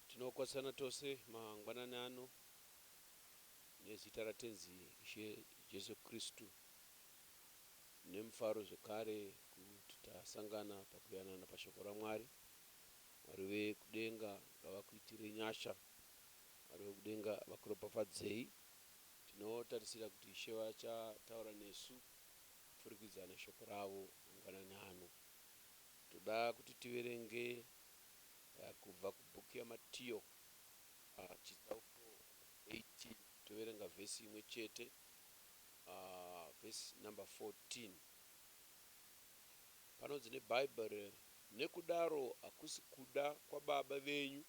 Tinokwazisana tose mangwanani ano nezita raTenzi Ishe Jesu Kristu nemufaro zvekare kuti tasangana pakuyanana paShoko raMwari. Mwari vekudenga ngavakuitire nyasha Mwari vekudenga vakuropafadzei tinotarisira kuti Ishe vacha taura nesu kupfurikidza neshoko ravo mangwanani ano toda kuti tiverenge kubva kubook yaMatiyo chitsauko 18 toverenga verse imwe chete verse number 14 panonzi neBible Nekudaro hakusi kuda kwaBaba venyu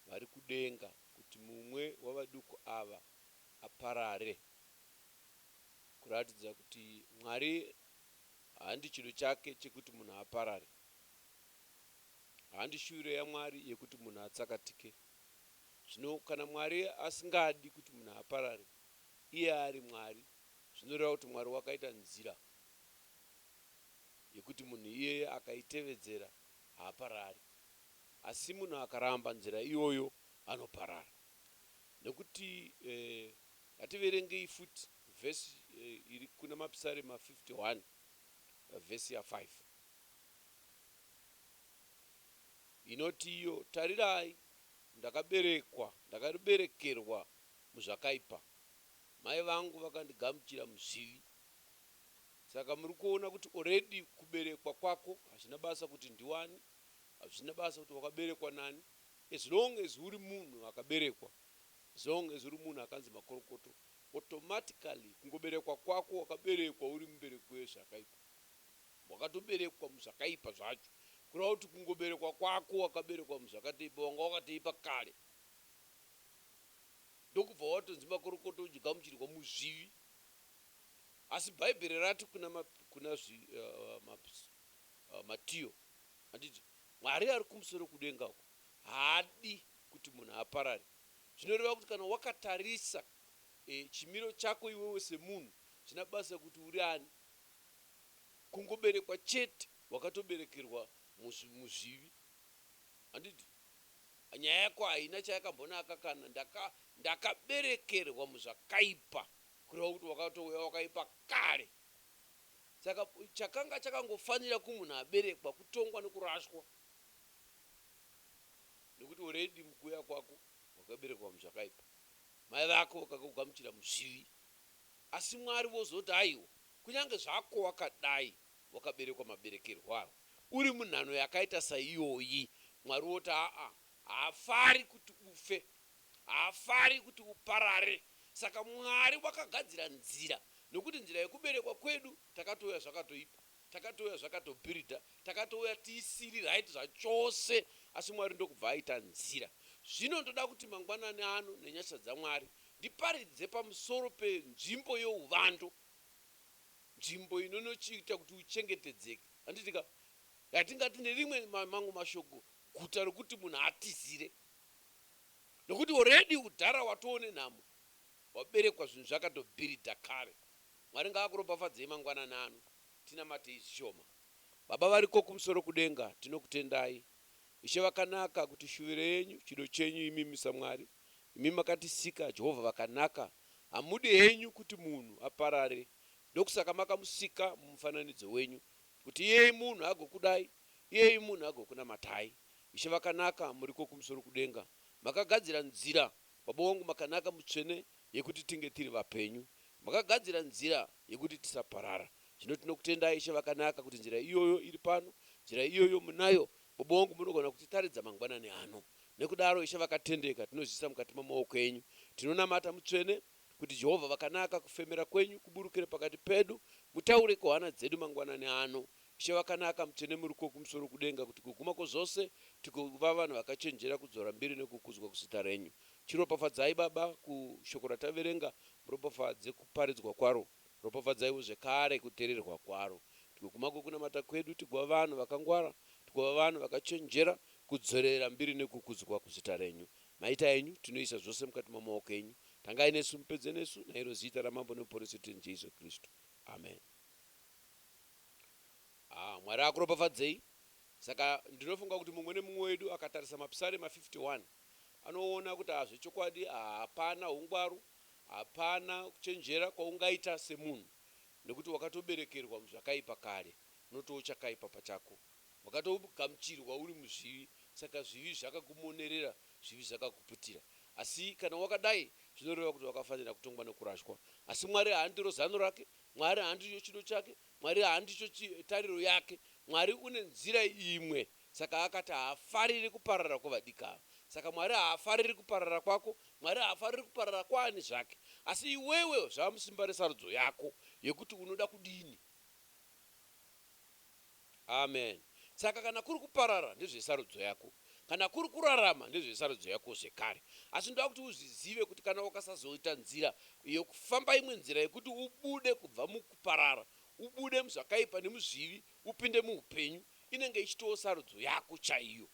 vari kudenga kuti mumwe wavaduku ava aparare. Kuratidza kuti Mwari handi chido chake chekuti munhu aparare. Handi shuviro yaMwari yekuti munhu atsakatike. Zvino kana Mwari asingadi kuti munhu aparare, iye ari Mwari, zvinoreva kuti Mwari wakaita nzira. yekuti munhu iyeye akaitevedzera haaparari asi munhu akaramba nzira iyoyo anoparara nekuti ngativerengei futi verse iri kuna Mapisarema 51 verse ya 5 inoti iyo tarirai ndakaberekwa ndakaberekerwa muzvakaipa mai vangu vakandigamuchira muzvivi. Saka muri kuona kuti already kuberekwa kwako hazvina basa kuti ndiwani, hazvina basa kuti wakaberekwa nani as long as uri munhu akaberekwa, as long as uri munhu akanzi makorokoto automatically kungoberekwa kwako wakaberekwa uri mubereki wezvakaipa. Wakatoberekwa muzvakaipa zvacho kureva kuti kungoberekwa kwako wakaberekwa muzvakateipa wanga wakateipa kare ndokubva watonzi makorokoto uchigamuchirwa muzvivi. Asi Bhaibheri rati kuna, ma, kuna zvi, uh, ma, uh, Matiyo, handiti, Mwari ari kumusoro kudenga uko haadi kuti munhu aparare. Zvinoreva kuti kana wakatarisa e, chimiro chako iwewe semunhu, china basa kuti uri ani. Kungoberekwa chete, wakatoberekerwa muzvi, muzvivi. Handiti? Nyaya yako haina chayakambonaka kana ndaka, ndakaberekerwa muzvakaipa. Kureva kuti wakatouya wakaipa kare. Saka chakanga chakangofanira kumunhu aberekwa kutongwa nekurashwa nekuti already mukuuya kwako wakaberekwa muzvakaipa. Mai vako vakakugamuchira muzvivi asi Mwari vozoti aiwa kunyange zvako wakadai wakaberekwa maberekerwo ayo uri munhano yakaita saiyoyi Mwari voti aa haafari kuti ufe Haafari kuti uparare. Saka Mwari wakagadzira nzira nokuti nzira yekuberekwa kwedu takatouya zvakatoipa. Takatouya zvakatobhiridha. Takatouya tisiri right zvachose asi Mwari ndokubva aita nzira. Zvino ndoda kuti mangwanani ano nenyasha dzaMwari ndiparidze pamusoro penzvimbo youvando. Nzvimbo inonochiita kuti uchengetedzeke. Handiti ka? Yatingati nerimwe mamwe mashoko guta rokuti munhu atizire. Nokuti already udhara watoo nenhamo waberekwa zvinhu zvakato bhiridha kare. Mwari ngaakuropafadzei mangwanani ano tinamatei zvishoma. Baba variko kumusoro kudenga tinokutendai Ishe vakanaka kuti shuviro yenyu chido chenyu imimi saMwari imi makatisika Jehovah vakanaka hamudi henyu kuti munhu aparare ndokusaka makamusika mumufananidzo wenyu kuti iyeye munhu agokudai iyeye munhu agokunamatai Ishe vakanaka muriko kumusoro kudenga makagadzira nzira baba wangu makanaka mutsvene yekuti tinge tiri vapenyu makagadzira nzira yekuti tisaparara zvino tinokutendai ishe vakanaka kuti nzira iyoyo iri pano nzira iyoyo munayo baba wangu munogona kutitaridza mangwanani ano nekudaro ishe vakatendeka tinozviisa mukati memaoko enyu tinonamata mutsvene kuti Jehovha vakanaka kufemera kwenyu kuburukire pakati pedu mutaure kuhana dzedu mangwanani ano Ishe vakanaka, mutsvene muri kwokumusoro kudenga, kuti kuguma kwozvose tigova vanhu vakachenjera kudzora mbiri nokukudzwa kuzita renyu. Chiropafadzai, Baba, kuShoko rataverenga, muropafadze kuparidzwa kwaro, ropafadzaiwo zvekare kuteererwa kwaro, kuti kuguma kwokunamata kwedu tigova vanhu vakangwara, tigova vanhu vakachenjera kudzorera mbiri nokukudzwa kuzita renyu. Maita enyu, tinoisa zvose mukati mamaoko enyu. Tangai nesu, mupedze nesu, nairo zita raMambo neMuponesi wedu, Tenzi Jesu Kristu. Ameni. Haa Mwari akuropafadzei. Saka ndinofunga kuti mumwe nemumwe wedu akatarisa maPsarema 51 anoona kuti haa zvechokwadi hapana hungwaru, hapana kuchenjera kwaungaita semunhu nekuti wakatoberekerwa muzvakaipa kare, unotowo chakaipa pachako. Wakatogamuchirwa uri muzvivi saka zvivi zvakakumonerera, zvivi zvakakuputira. Asi kana wakadai zvinoreva kuti wakafanira kutongwa nekurashwa. Asi Mwari haandiro zano rake, Mwari handicho chido chake, Mwari handicho chi, tariro yake. Mwari une nzira imwe, saka akati haafariri kuparara kwevadiki ava. Saka Mwari haafariri kuparara kwako, Mwari haafariri kuparara kwaani zvake. Asi iwewe zvava musimba resarudzo yako, yekuti unoda kudini. Amen saka kana kuri kuparara ndezvesarudzo yako kana kuri kurarama ndezvesarudzo yako zvekare asi ndoda kuti uzvizive kuti kana ukasazoita nzira yoku famba imwe nzira yekuti ubude kubva mukuparara ubude muzvakaipa nemuzvivi upinde muupenyu inenge ichitoo sarudzo yako chaiyo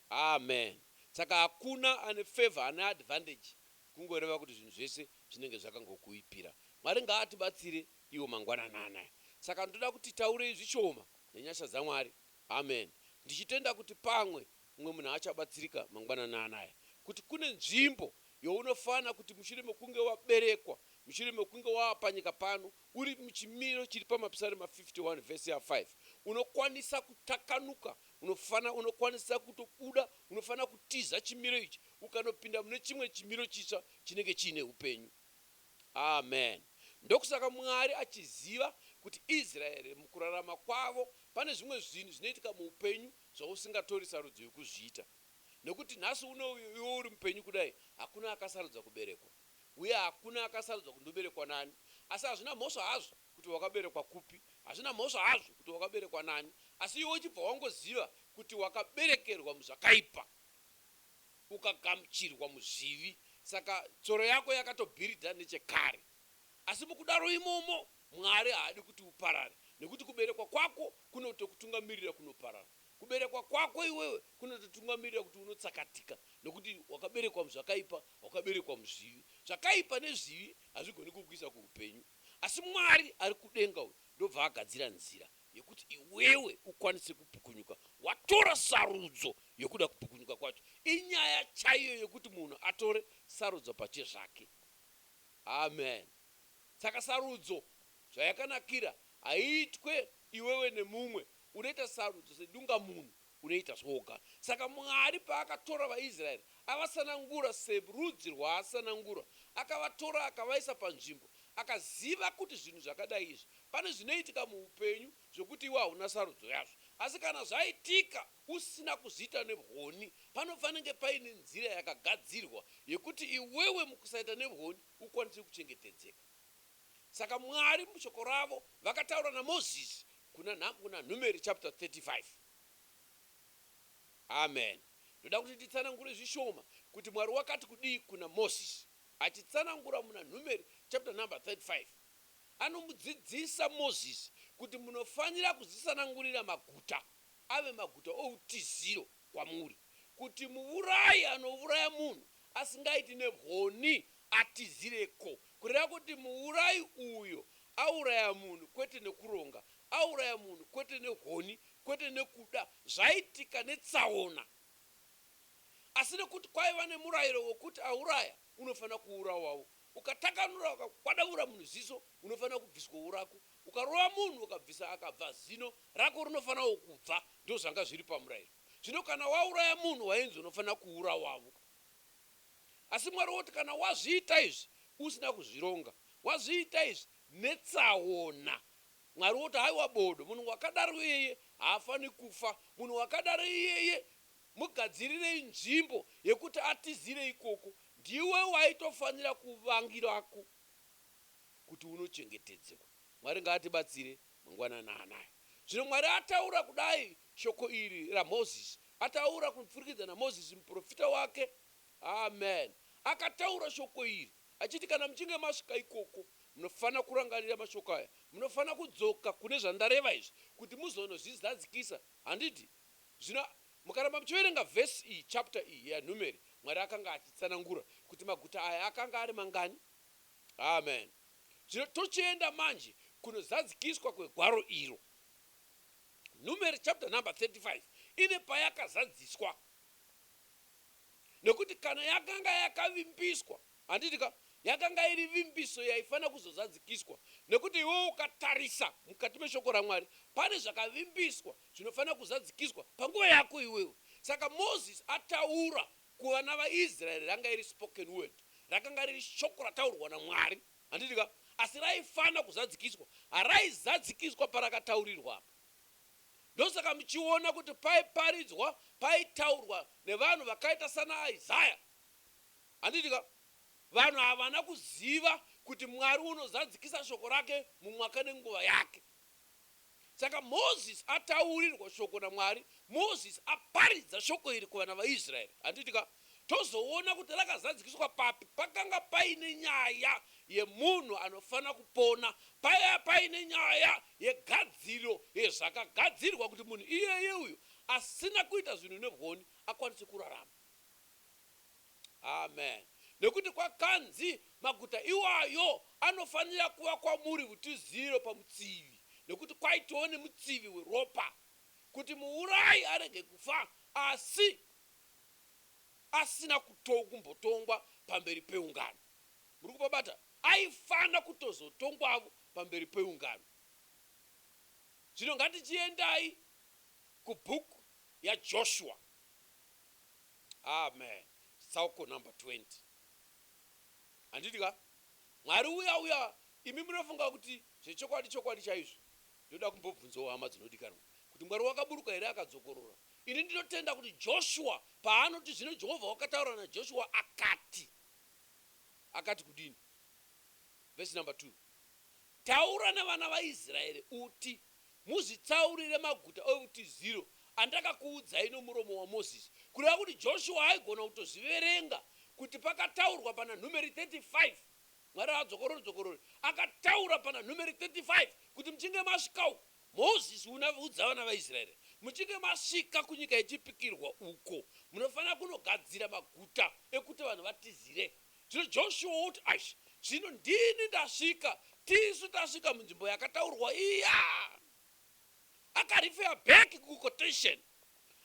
Amen saka hakuna ane favour ane advantage kungoreva kuti zvinhu zvese zvinenge zvakangokuipira Mwari ngaatibatsire iwo mangwanani anaya saka ndoda kuti taurei zvishoma nenyasha dzaMwari Amen ndichitenda kuti pamwe mumwe munhu achabatsirika mangwanani anaya kuti kune nzvimbo younofana kuti mushure mekunge waberekwa mushure mekunge wava panyika pano uri muchimiro chiri pamapisarema 51 vhesi ya 5 unokwanisa kutakanuka unofana unokwanisa kutobuda unofana kutiza chimiro ichi ukanopinda mune chimwe chimiro chitsva chinenge chiine upenyu Amen. Ndokusaka Mwari achiziva kuti Israel mukurarama kwavo pane zvimwe zvinhu zvinoitika muupenyu zvausingatori sarudzo yokuzviita. Nekuti nhasi uno iwe uri mupenyu kudai hakuna akasarudza kuberekwa. Uye hakuna akasarudza kuti ndoberekwa nani. Asi hazvina mhosva hazvo kuti wakaberekwa kupi. Hazvina mhosva hazvo kuti wakaberekwa nani. Asi iwe uchibva wangoziva kuti wakaberekerwa muzvakaipa. ukagamuchirwa muzvivi saka tsoro yako yakatobhiridha nechekare. Asi mukudaro imomo Mwari haadi kuti uparare nekuti kuberekwa kwako kunotokutungamirira kunoparara. Kuberekwa kwako iwewe kunototungamirira kuti unotsakatika nekuti wakaberekwa muzvakaipa, wakaberekwa muzvivi. Zvakaipa nezvivi hazvigoni kukuisa kuhupenyu. Asi Mwari ari kudenga uyu ndobva agadzira nzira yekuti iwewe ukwanise kupukunyuka watora sarudzo yekuda kupukunyuka kwacho inyaya chaiyo yekuti munhu atore sarudzo pachezvake amen saka sarudzo zvayakanakira haiitwe iwewe nemumwe unoita sarudzo sedungamunhu Unoita zvoga. Saka Mwari paakatora vaIsraeri avasanangura serudzi rwaasanangura, akavatora akavaisa panzvimbo. Akaziva kuti zvinhu zvakadai izvi, pane zvinoitika muupenyu zvekuti iwe hauna sarudzo yazvo. Asi kana zvaitika usina kuzviita nevhoni, panofanenge paine nzira yakagadzirwa yekuti iwewe mukusaita nevhoni ukwanise kuchengetedzeka. Saka Mwari mushoko ravo vakataura naMozisi kuna nhambo kuna Numeri chapter 35. Amen. Ndoda kuti nditsanangure zvishoma kuti Mwari wakati kudii kuna Mozisi. Achitsanangura muna Numeri chapter number 35. Anomudzidzisa Mozisi kuti munofanira kuzisanangurira maguta ave maguta outiziro. kwamuri kuti muvurayi anovuraya munhu asingaiti nehoni atizire ko kureva kuti muvurayi uyo auraya munhu kwete nekuronga auraya munhu kwete nehoni kwete nekuda zvaitika netsaona asi nekuti kwaiva nemurayiro wekuti auraya unofanira kuurawawo Ukatakanura ukakwadavura munhu ziso unofanira kubviswawo rako. Ukarova munhu ukabvisa akabva zino rako rinofanirawo kubva. Ndozvanga zviri pamurayiro. Zvino kana wauraya munhu wainzi unofanira kuurawavo. Asi Mwari woti kana wazviita izvi usina kuzvironga, wazviita izvi netsaona, Mwari woti haiwa bodo, munhu wakadaro iyeye haafani kufa, munhu wakadaro iyeye Mugadzirirei nzvimbo yekuti atizire ikoko ndiwe waitofanira kuvangirako kuti unochengetedzekwa. Mwari ngaatibatsire mangwanani anaya. Zvino Mwari ataura kudai shoko iri raMoses ataura kupfurikidza naMoses muporofita wake. Amen. Akataura shoko iri achiti kana muchinge masvika ikoko munofanira kurangarira mashoko aya. Munofanira kudzoka kune zvandareva izvi kuti muzonozvizadzikisa. Handiti? Zvino mukaramba muchiverenga verse iyi, chapter iyi yaNhumeri, Mwari akanga achitsanangura kuti maguta aya akanga ari mangani. Amen. Zvino tochienda manje kunozadzikiswa kwegwaro iro. Nhumeri chapter number 35 ine payakazadziswa, nekuti kana yakanga yakavimbiswa Handiti ka? Yakanga iri vimbiso yaifanira kuzozadzikiswa, nekuti iwe ukatarisa mukati meShoko raMwari, pane zvakavimbiswa zvinofanira kuzadzikiswa panguva yako iwewe. Saka Mozisi ataura kuvana vaIsraeri ranga iri spoken word, rakanga riri shoko rataurwa naMwari. Handiti ka? Asi raifanira kuzadzikiswa. Haraizadzikiswa parakataurirwa apa. Ndosaka muchiona kuti paiparidzwa, paitaurwa nevanhu vakaita sanaIsaya. Handiti ka? Vanhu havana kuziva kuti Mwari unozadzikisa shoko rake mumwaka nenguva yake. Saka Moses ataurirwa shoko naMwari, Moses aparidza shoko iri kuvana vaIsraeri. Handiti ka? Tozoona kuti rakazadzikiswa papi. Pakanga paine nyaya yemunhu anofanira kupona. Paiva paine nyaya yegadziriro yezvakagadzirwa kuti munhu iyeye uyo asina kuita zvinhu negoni akwanise kurarama. Amen. Nekuti kwakanzi, Maguta iwayo anofanira kuva kwamuri utiziro pamutsivi, nekuti kwaitiwo nemutsivi weropa, kuti muurayi arege kufa asi asina kumbotongwa pamberi peungano. Muri kupabata? Aifanira kutozotongwavo pamberi peungano. Zvino ngatichiendai kubook yaJoshua. Amen chitsauko number 20 handiti ka Mwari uya uya imi munofunga kuti zvechokwadi chokwadi chaizvo ndoda kumbobvunzawo hama dzinodikanwa kuti Mwari wakaburuka here akadzokorora ini ndinotenda kuti Joshua paanoti zvino Jehovha wakataura naJoshua akati akati kudini verse number 2 taura nevana vaIsraeri uti Muzvitsaurire maguta outiziro andakakuudzai nomuromo waMozisi, kureva kuti Joshua aigona kutozviverenga, kuti pakataurwa pana Numeri 35, Mwari haadzokorori-dzokorori, akataura pana Numeri 35 kuti muchinge masvika uko, Mozisi una, udza vana vaIsraeri, muchinge masvika kunyika yechipikirwa uko, munofanira kunogadzira maguta ekuti vanhu vatizire. Zvino Joshua woti, Eish, zvino ndini ndasvika, tisu tasvika munzvimbo yakataurwa iya! Akarifeya back kuquotation,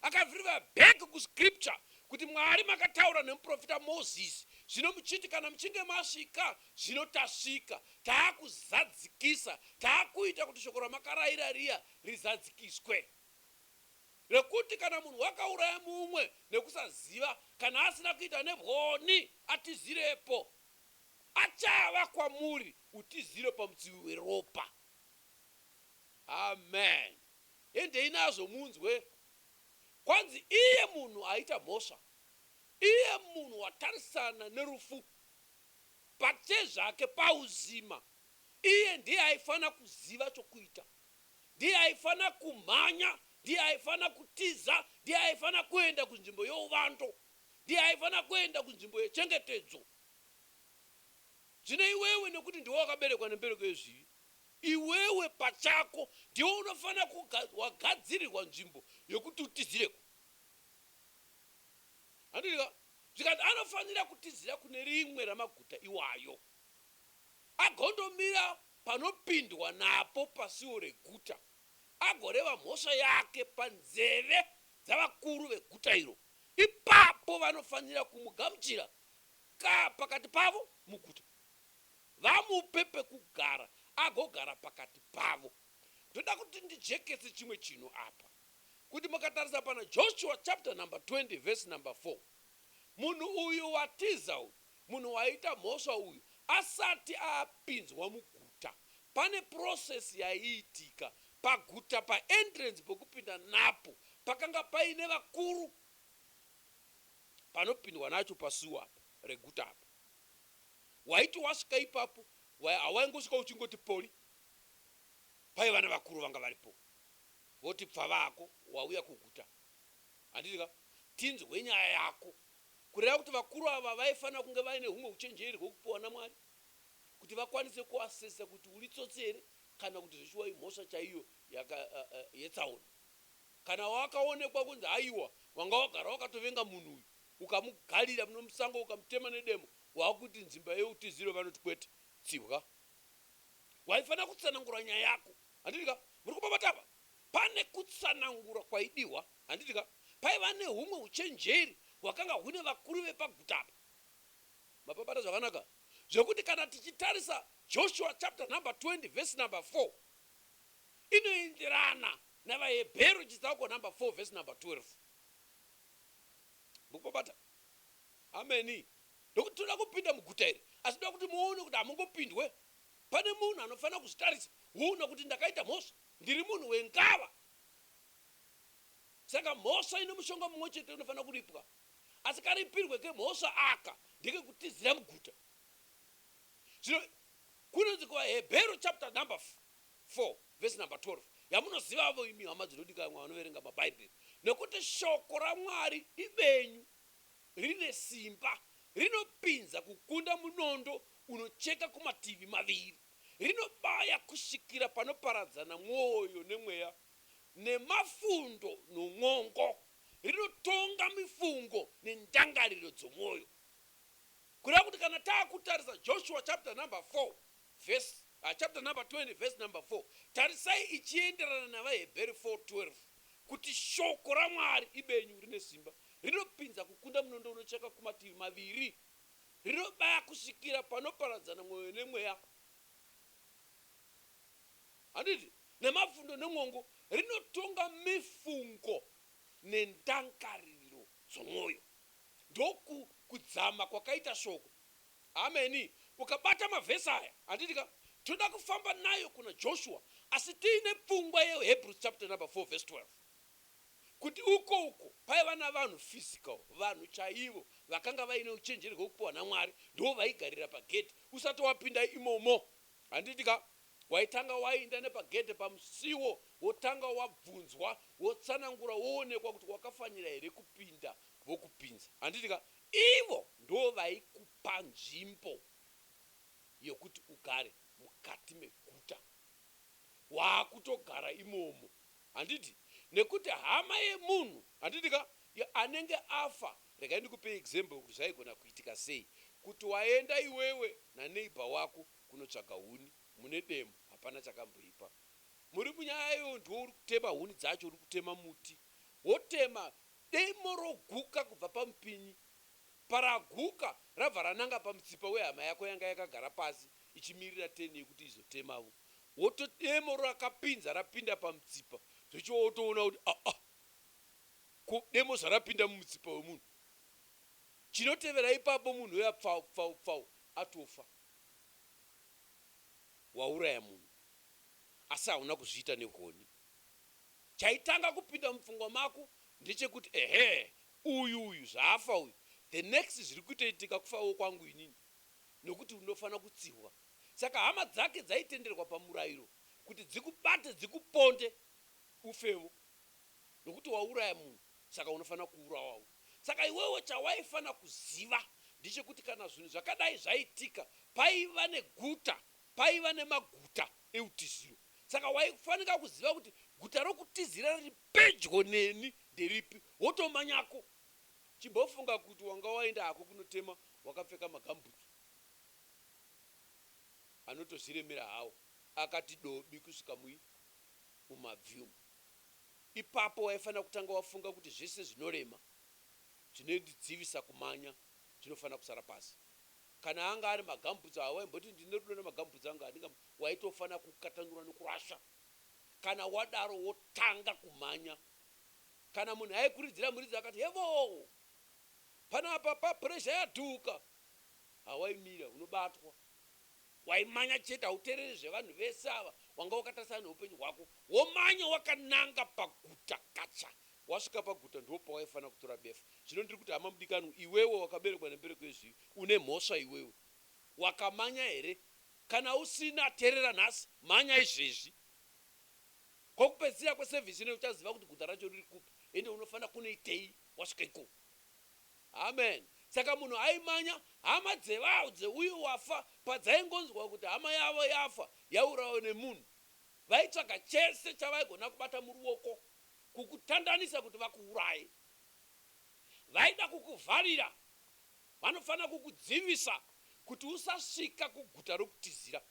akarifeya back kuscripture, kuti Mwari makataura nemuprofita Moses, zvino muchiti kana muchinge masvika, zvino tasvika, taakuzadzikisa, taakuita kuti shoko ramakaraira riya rizadzikiswe. rekuti kana munhu wakauraya mumwe nekusaziva kana asina kuita nebwoni atizirepo achava kwamuri utiziro pamutsivi weropa. Amen endei nazvo munzwe kwanzi iye munhu aita mhosva iye munhu watarisana nerufu pachezvake pauzima iye ndiye aifana kuziva chokuita. Ndiye aifanira kumhanya, ndiye aifanira kutiza, ndiye aifanira kuenda kunzvimbo youvando, ndiye aifanira kuenda kunzvimbo yechengetedzo. Zvino iwewe, nekuti ndiwe wakaberekwa nembereko yezvivi, iwewe pachako ndiwe unofanira kuga, wagadzirirwa nzvimbo yokuti utizireko. Handiti ka? Zvikanzi anofanira kutizira kune rimwe ramaguta iwayo, agondomira panopindwa napo pasuo reguta agoreva mhosva yake panzeve dzavakuru veguta iro. Ipapo vanofanira kumugamuchira ka pakati pavo muguta, vamupe pekugara agogara pakati pavo. Ndoda kuti ndijekese chimwe chinhu apa, kuti mukatarisa pana Joshua chapter number 20 verse number 4, munhu uyu watiza uyu, Munhu waita mhosva uyu asati apinzwa muguta pane process yaiitika paguta pa entrance pekupinda napo pakanga paine vakuru panopindwa nacho pasewer apa reguta apa waiti wasvika ipapo hawaingosvika uchingoti poli paiva nevakuru vanga varipo voti pfavako wauya kuguta handiti ka tinzwe nyaya yako Kureva kuti vakuru ava vaifanira kunge vaine humwe huchenjeri hwekupiwa naMwari kuti vakwanise kuassessa kuti uri tsotsi here kana kuti zveshuwa imhosva chaiyo yetsaona. Kana wakaonekwa kunzi haiwa wanga wagara wakatovenga munhu uyu ukamugarira musango ukamutema nedemo wakuti nzimba yeutiziro vanoti kwete tsibwa. Waifanira kutsanangura nyaya yako. Handiti ka? Muri kupopota apa? Pane kutsanangura kwaidihwa. Handiti ka? Paiva nehumwe huchenjeri hwakanga hune vakuru vepaguta apa. Mapabata zvakanaka zvekuti kana tichitarisa Joshua chapter number 20 verse number 4 inoenderana navaHebheru chitsauko number 4 verse number 12. Mukupabata? Ameni. Ndokuti tinoda kupinda muguta iri, asi ndoda kuti muone kuti hamungopindwe. Pane munhu anofanira kuzvitarisa woona kuti ndakaita mhosva, ndiri munhu wengava. Saka mhosva ine mushonga mumwe chete unofanira kuripwa, asi karipirwe kemhosva aka ndekekutizira muguta. Zvino kunonzi kuvaHebheru chapter number 4 verse number 12 yamunozivavo imi hama dzinodikanwa vanoverenga maBhaibheri, nekuti shoko raMwari ibenyu, rine simba, rinopinza kukunda munondo unocheka kumativi maviri, rinobaya kusvikira panoparadzana mwoyo nemweya, nemafundo non'ongo, rinotonga mifungo nendangariro dzomwoyo. Kureva kuti kana taakutarisa Joshua chapter number 4 verse, uh, chapter number 20 verse number 4, tarisai ichienderana navaHebheri 4:12 kuti shoko raMwari ibenyu rine simba, rinopinza kukunda munondo unocheka kumativi maviri, rinobaya kusvikira panoparadzana mwoyo nemweya. Handiti nemapfundo nemwongo rinotonga mifungo nendangaririro dzomwoyo. Ndoku kudzama kwakaita Shoko. Ameni. Ukabata mavhesi aya, handiti ka, tinoda kufamba nayo kuna Joshua, asi tiine pfungwa yeHebrews chapter number four verse 12, kuti uko uko paiva navanhu physical, vanhu chaivo vakanga vaine uchenjeri hwekupiwa naMwari, ndivo vaigarira pagedhi usati wapinda imomo. Handiti ka? Waitanga wainda nepagedhe pamusiwo wotanga wabvunzwa wotsanangura woonekwa kuti wakafanira here kupinda vokupinza handiti ka ivo ndovaikupa nzvimbo yekuti ugare mukati meguta wakutogara imomo handiti nekuti hama yemunhu handiti ka anenge afa regai ndikupei example yekuti zvaigona kuitika sei kuti waenda iwewe naneighbor wako kunotsvaga huni mune demo hapana chakamboipa muri munyaya iyoyo ndiwe uri kutema huni dzacho uri kutema muti wotema demo roguka kubva pamupinyi paraguka rabva rananga pamutsipa wehama yako yanga yakagara pasi ichimirira turn yekuti izotemavo woto demo rakapinza rapinda pamutsipa zvechiwo wotoona kuti aa ko demo zvarapinda mumutsipa wemunhu chinotevera ipapo munhu uya pfau pfau pfau atofa wauraya munhu asi hauna kuzviita nehoni. Chaitanga kupinda mupfungwa mako ndechekuti ehe uyu uyu zvaafa uyu the next zviri kutoitika kufawo kwangu inini nekuti unofana kutsihwa. Saka hama dzake dzaitenderwa pamurairo kuti dzikubate dzikuponde ufewo. nokuti wauraya munhu saka unofanira kuurawawo. Saka iwewe chawaifanira kuziva ndechekuti kana zvinhu zvakadai zvaitika paiva neguta, paiva nemaguta eutiziro. Saka waifanika kuziva kuti guta rokutizira riri pedyo neni nderipi, wotomanyako. Chimbofunga kuti wanga waenda hako kunotema wakapfeka magambutsu anotozviremera hawo akati dobi kusvika mui, mumabvi umu. Ipapo waifanira kutanga wafunga kuti zvese zvinorema zvinondidzivisa kumanya zvinofanira kusara pasi. Kana anga ari magambhutsu awa waimboti ndine rudo nemagambhutsu angu handinga waitofanira kukatanura nekurasha. Kana wadaro wotanga kumhanya. Kana munhu aikuridzira muridzi akati hevoo! Panapa pa pressure yaduka! Hawaimira, unobatwa. Waimanya chete hautereri zvevanhu vese ava wanga wakatarisana neupenyu hwako womanya wakananga paguta kacha wasvika paguta ndipo pawaifanira kutora befu zvino ndiri kuti hama mudikanwi iwewe wakaberekwa nembereko yezvivi une mhosva iwewe wakamanya here kana usina terera nhasi manya izvezvi kokupedzisira kweservice ino uchaziva kuti guta racho riri kupi ende unofanira kunoitei wasvika ikoko. Amen saka munhu aimanya hama dzevau dzeuyo wafa padzaingonzwa kuti hama yavo yafa yaurawa nemunhu vaitsvaga chese chavaigona kubata muruoko kukutandanisa kuti vakuuraye vaida kukuvharira vanofanira kukudzivisa kuti usasvika kuguta rokutizira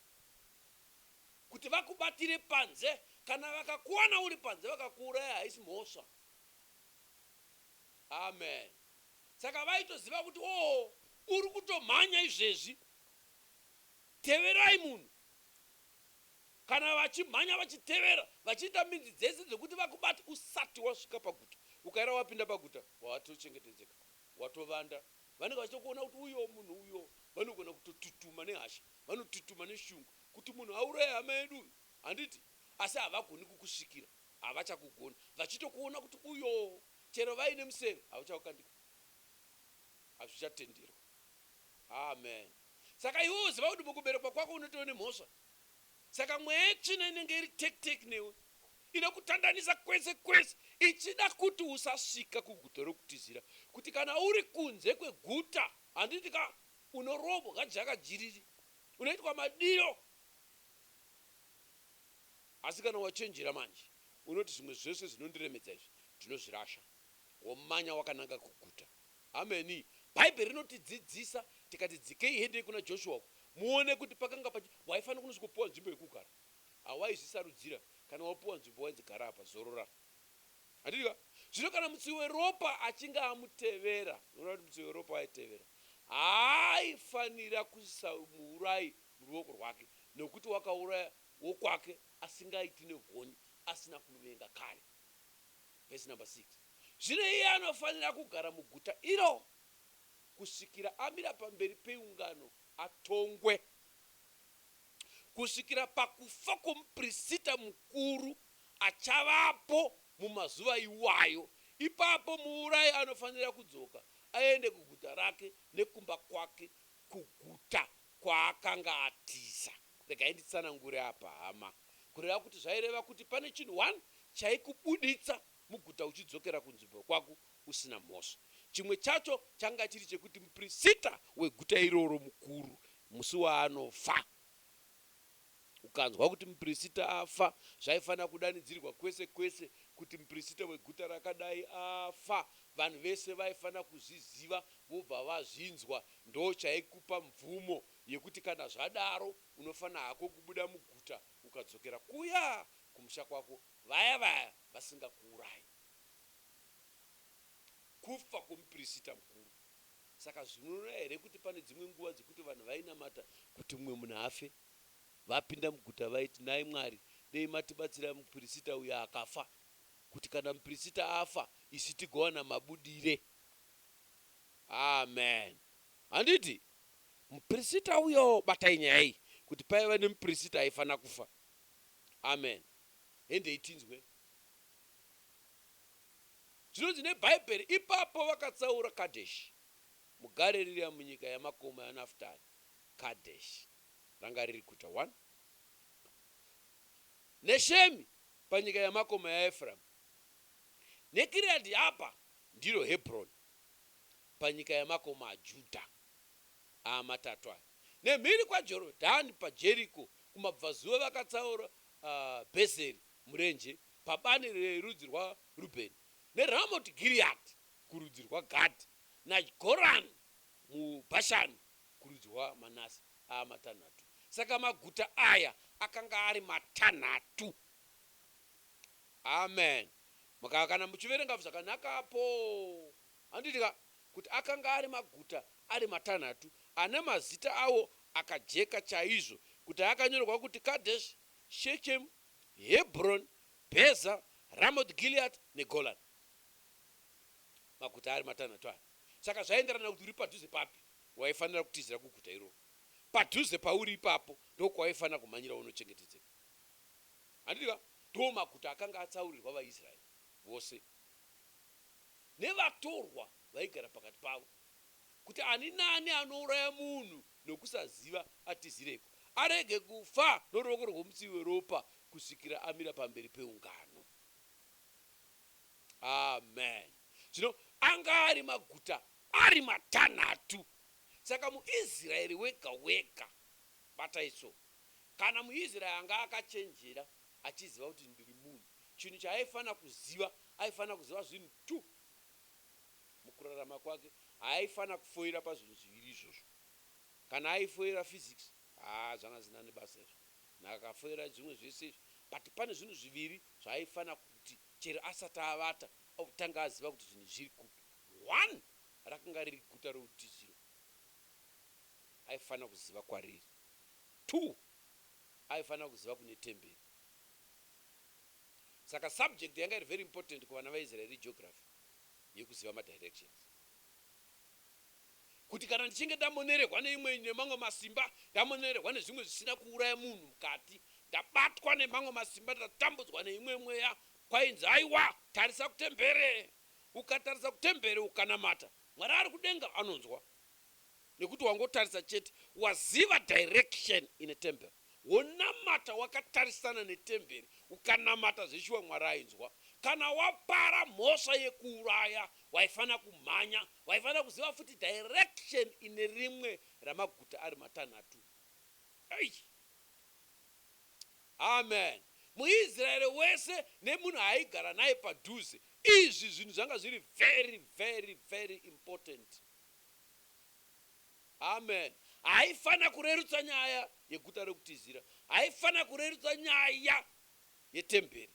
kuti vakubatire panze kana vakakuwana uri panze vakakuuraya haisi mhosva Amen saka vaitoziva kuti oo uri kutomhanya izvezvi teverai munhu kana vachimhanya vachitevera vachiita midzi dzese dzekuti vakubate usati wasvika paguta ukaera wapinda paguta watochengetedzeka watovanda vanenge vachitokuona kuti uyoo munhu uyoo vanogona kutotutuma nehasha vanotutuma neshungu kuti munhu auraye hama yedu uyu handiti asi havagoni kukusvikira havachakugoni vachitokuona kuti uyoo Chero vaine museve hauchaukandika hazvichatenderwa Amen saka iwe woziva kuti mukuberekwa kwako unotove nemhosva saka mweya yetsvina inenge iri take take newe inokutandanisa kwese kwese ichida kuti usasvika kuguta rokutizira kuti kana uri kunze kweguta handiti ka unorobwa jaka jiriri unoitwa madiro Asi kana wachenjera manje, unoti, Zvimwe zvese zvinondiremedza izvi ndinozvirasha, womanya wakananga kuguta. Ameni. Bhaibheri rinotidzidzisa, tikati, Dzikei hendei kuna Joshua uko, muone kuti pakanga pachi. Waifanira kunosvikopiwa nzvimbo yekugara. Hawaizvisarudzira, kana wapiwa nzvimbo wainzi, Gara apa, zorora. Handiti ka? Zvino kana mutsivi weropa achinge amutevera, unoona kuti mutsivi weropa aitevera, haaifanira kuisa muurayi muruoko rwake, nokuti wakauraya wokwake asingaiti negonye asina kumuvenga kare. Vhesi namba 6 Zvino iye anofanira kugara muguta iro kusvikira amira pamberi peungano atongwe, kusvikira pakufa kwomuprisita mukuru achavapo mumazuva iwayo. Ipapo muurayi anofanira kudzoka aende kuguta rake nekumba kwake, kuguta kwaakanga atiza. Regai nditsanangure apa hama. Kureva kuti zvaireva kuti pane chinhu one chaikubuditsa muguta uchidzokera kunzvimbo kwako usina mhosva. Chimwe chacho changa chiri chekuti muprisita weguta iroro mukuru musi waanofa. Ukanzwa kuti muprisita afa zvaifanira kudanidzirwa kwese kwese kuti muprisita weguta rakadai afa. Vanhu vese vaifanira kuzviziva vobva vazvinzwa. Ndochaikupa mvumo Yekuti kana zvadaro unofana hako kubuda muguta ukadzokera kuya kumusha kwako vaya vaya vasingakuurayi. Kufa kwomupirisita mukuru. Saka zvinoreva here kuti pane dzimwe nguva dzekuti vanhu vainamata kuti mumwe munhu afe, vapinda muguta vaiti, nhai Mwari, dei matibatsira mupirisita uya akafa, kuti kana mupirisita afa isu tigowana mabudire? Amen. Handiti? Muprisita uyowo batai nyaya iyi kuti paiva nemuprisita aifana kufa amen hendei tinzwe zvinonzi nebhaibheri ipapo vakatsaura kadesh mugaririya munyika yamakomo yanaftari kadesh ranga riri kuta one neshemi panyika yamakomo yaeframu nekiriadhi apa ndiro hebroni panyika yamakomo ajudha amatatu aya. Nemhiri kwaJorodhani paJeriko kumabvazuva vakatsaura Bhezeri murenje pabani rerudzi rwaRubheni, neRamoti Giriati kurudzi rwaGadhi, naGorani muBhashani kurudzi rwaManase, aamatanhatu. Saka maguta aya akanga ari matanhatu. Amen. Kana muchiverenga zvakanaka apo. Handiti ka, kuti akanga ari maguta ari matanhatu ane mazita awo akajeka chaizvo, kuti akanyorwa kuti Kadheshi, Shekemu, Hebhuroni, Bheza, Ramoti Giriati neGorani. Maguta ari matanhatu aya. Saka zvaienderana kuti uri padhuze papi, waifanira kutizira kuguta iroro. Padhuze pauri ipapo ndokwawaifanira kumhanyira wonochengetedzeka. Handiti ka? Ndiwo maguta akanga atsaurirwa vaIsraeri vose. nevatorwa vaigara pakati pavo kuti ani nani anouraya munhu nokusaziva atizireko, arege kufa noruoko rwomutsivi weropa kusvikira amira pamberi peungano. Amen. Zvino anga ari maguta ari matanhatu. Saka muIsraeri wega wega, batai so, kana muIsraeri anga akachenjera, achiziva kuti ndiri munhu. Chinhu chaaifanira kuziva, aifanira kuziva zvinhu two mukurarama kwake. Haaifanira kufoira pazvinhu zviviri izvozvo. Kana aifoira physics, haa zvanga zvisina nebasa izvo. Nhaka akafoira zvimwe zvese izvi but pane zvinhu zviviri zvaaifanira kuti chero asati avata otanga aziva kuti zvinhu izvi zviri kupi. One rakanga riri guta reutiziro, aifanira kuziva kwariri. Two aifanira kuziva kune temberi. Saka subject yanga iri very important kuvana vaIsrael iGeography yekuziva madirections. Kuti kana ndichinge ndamonerehwa neimwe nemamwe masimba, ndamonerehwa nezvimwe zvisina kuuraya munhu mukati, ndabatwa nemamwe masimba, ndatambudzwa neimwe mweya, kwainzi aiwa tarisa kutembere. Ukatarisa kutembere ukanamata, Mwari ari kudenga anonzwa. Nekuti wangotarisa chete waziva direction ine temple wonamata wakatarisana netemberi ukanamata zveshuwa Mwari ainzwa kana wapara mhosva yekuuraya waifanira kumhanya waifanira kuziva futi direction ine rimwe ramaguta ari matanhatu eish Amen muIsrael wese nemunhu aaigara naye padhuze izvi zvinhu zvanga zviri very very very importanti. Amen. Haifanira kurerutsa nyaya yeguta rekutizira. Haifanira kurerutsa nyaya yetemberi.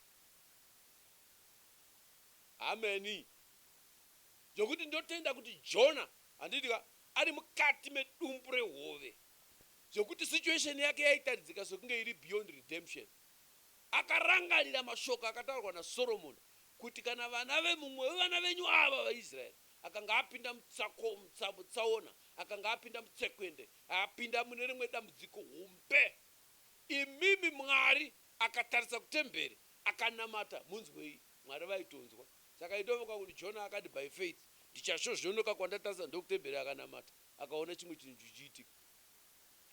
Amen. Ndokuti ndotenda kuti Jona, handiti ka, ari mukati medumbu rehove. Zvokuti situation yake yaitaridzika sekunge iri beyond redemption. Akarangarira mashoko akataurwa naSoromoni kuti kana vana vemumwe wevana venyu ava vaIsraeri Akanga apinda mutsako, mutsa, mutsaona. Akanga apinda mutsekwende. Apinda mune rimwe dambudziko hombe. Imimi Mwari! Akatarisa kutemberi, akanamata. Munzwei? Mwari vaitonzwa. Saka aitongofunga kuti, Jona akati, By faith, ndichasvozvonoka kwandatarisa ndokutemberi. Akanamata, akaona chimwe chinhu chichiitika.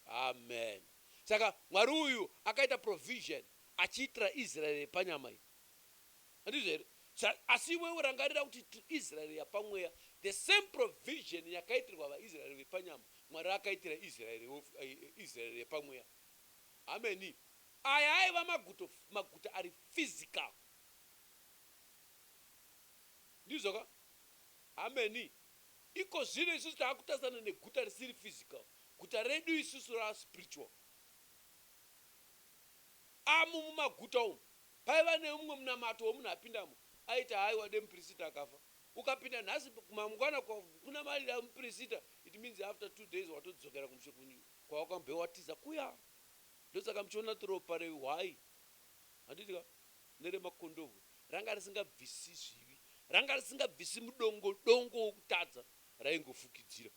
Amen. Saka Mwari uyu akaita provision, achiitira Israeri yepanyama iyi. Handizvo here? Sa, asi iwewe rangarira kuti tiri Israeri yapamweya. The same provision yakaitirwa vaIsraeri vepanyama, Mwari akaitira Israeri, Israeri yepamweya. Ameni. Aya aiva maguto, maguta ari physical. Ndizvo ka? Ameni. Iko zvino isusu taakutarisana neguta risiri physical. Guta redu isusu rava spiritual. Amu mumaguta umu, Paiva neumwe munamato wemunhu apindamo aiti haiwa dai mupirisita akafa. Ukapinda nhasi mangwana kunamarira mupirisita it means after two days watodzokera kumushe kwawakambve watiza kuya. Ndosaka muchiona kuti ropa rehwai, handiti ka, neremakondobwe ranga risingabvisi zvivi, ranga risingabvisi mudongo dongo wokutadza raingofukidzira.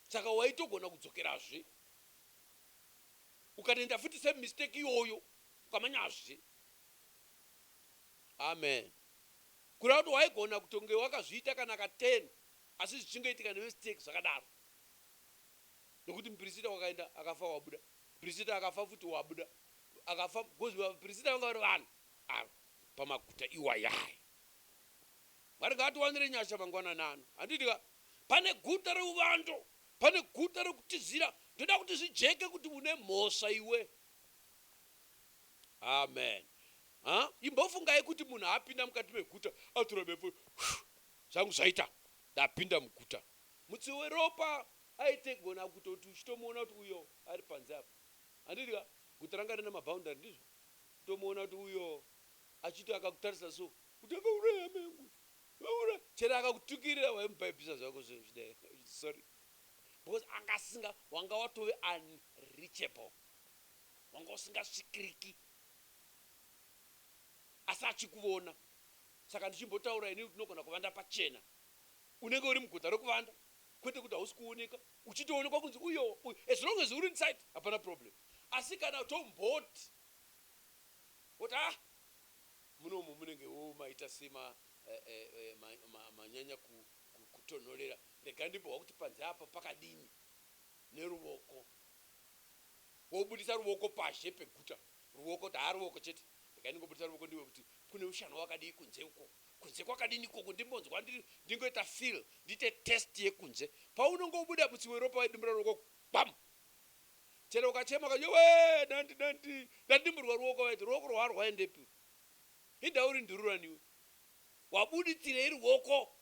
Saka waitogona kudzokerazve. Ukatoenda futi same mistake iyoyo ukamanyazve. Amen kureva kuti waigona kutonge wakazviita kana ka ten asi zvichingoitika ne mistake zvakadaro nekuti mupirisita wakaenda akafa wabuda mupirisita akafa futi wabuda akafa because vapirisita vanga vari vanhu ava pamaguta iwayaya. Mwari ngaatiwanire nyasha mangwanani ano handiti ka pane guta reuvando Pane guta rokutizira. Ndoda kuti zvijeke kuti une mhosva iwe. Amen. Ha? Imbofungai kuti munhu apinda mukati meguta, atora befu, zvangu zvaita, ndapinda muguta. Mutsivi weropa aitogona kutoti uchitomuona kuti uyo ari panze apa. Handidi ka? Guta ranga rina maboundary ndizvo. Kutomuona kuti uyo achiti akakutarisa so, kuti akauraya amai angu uyo. Unoona chero akakutukirira waimupaipisa zvako zve zvida sorry because anga asinga wanga watove unreachable wanga usingasvikiriki asi achikuvona saka ndichimbotaura ini tinogona kuvanda pachena unenge uri muguta rekuvanda kwete kuti hausi kuoneka uchitoonekwa kunzi uyo uyo as long as uri inside hapana problem asi kana tomboti woti ah Munomu munenge wo maita sema manyanya kutonhorera rega ndimbohwa kuti panze apa pakadini neruvoko wobudisa ruvoko pazhe peguta ruvoko kuti haa ruvoko chete rega ndingobudisa ruvoko ndiwe kuti kune ushana wakadii kunze uko kunze kwakadini ikoko ndimbonzwa ndingoita feel ndiite test yekunze paunongobuda mutsi weropa wedumbu raruvoko gwam chero ukachema ukati yowee nandi nandi ndadimburwa ruoko vaiti ruoko rwaa rwaendepi hidha uri ndururani iwe wabuditsirei ruoko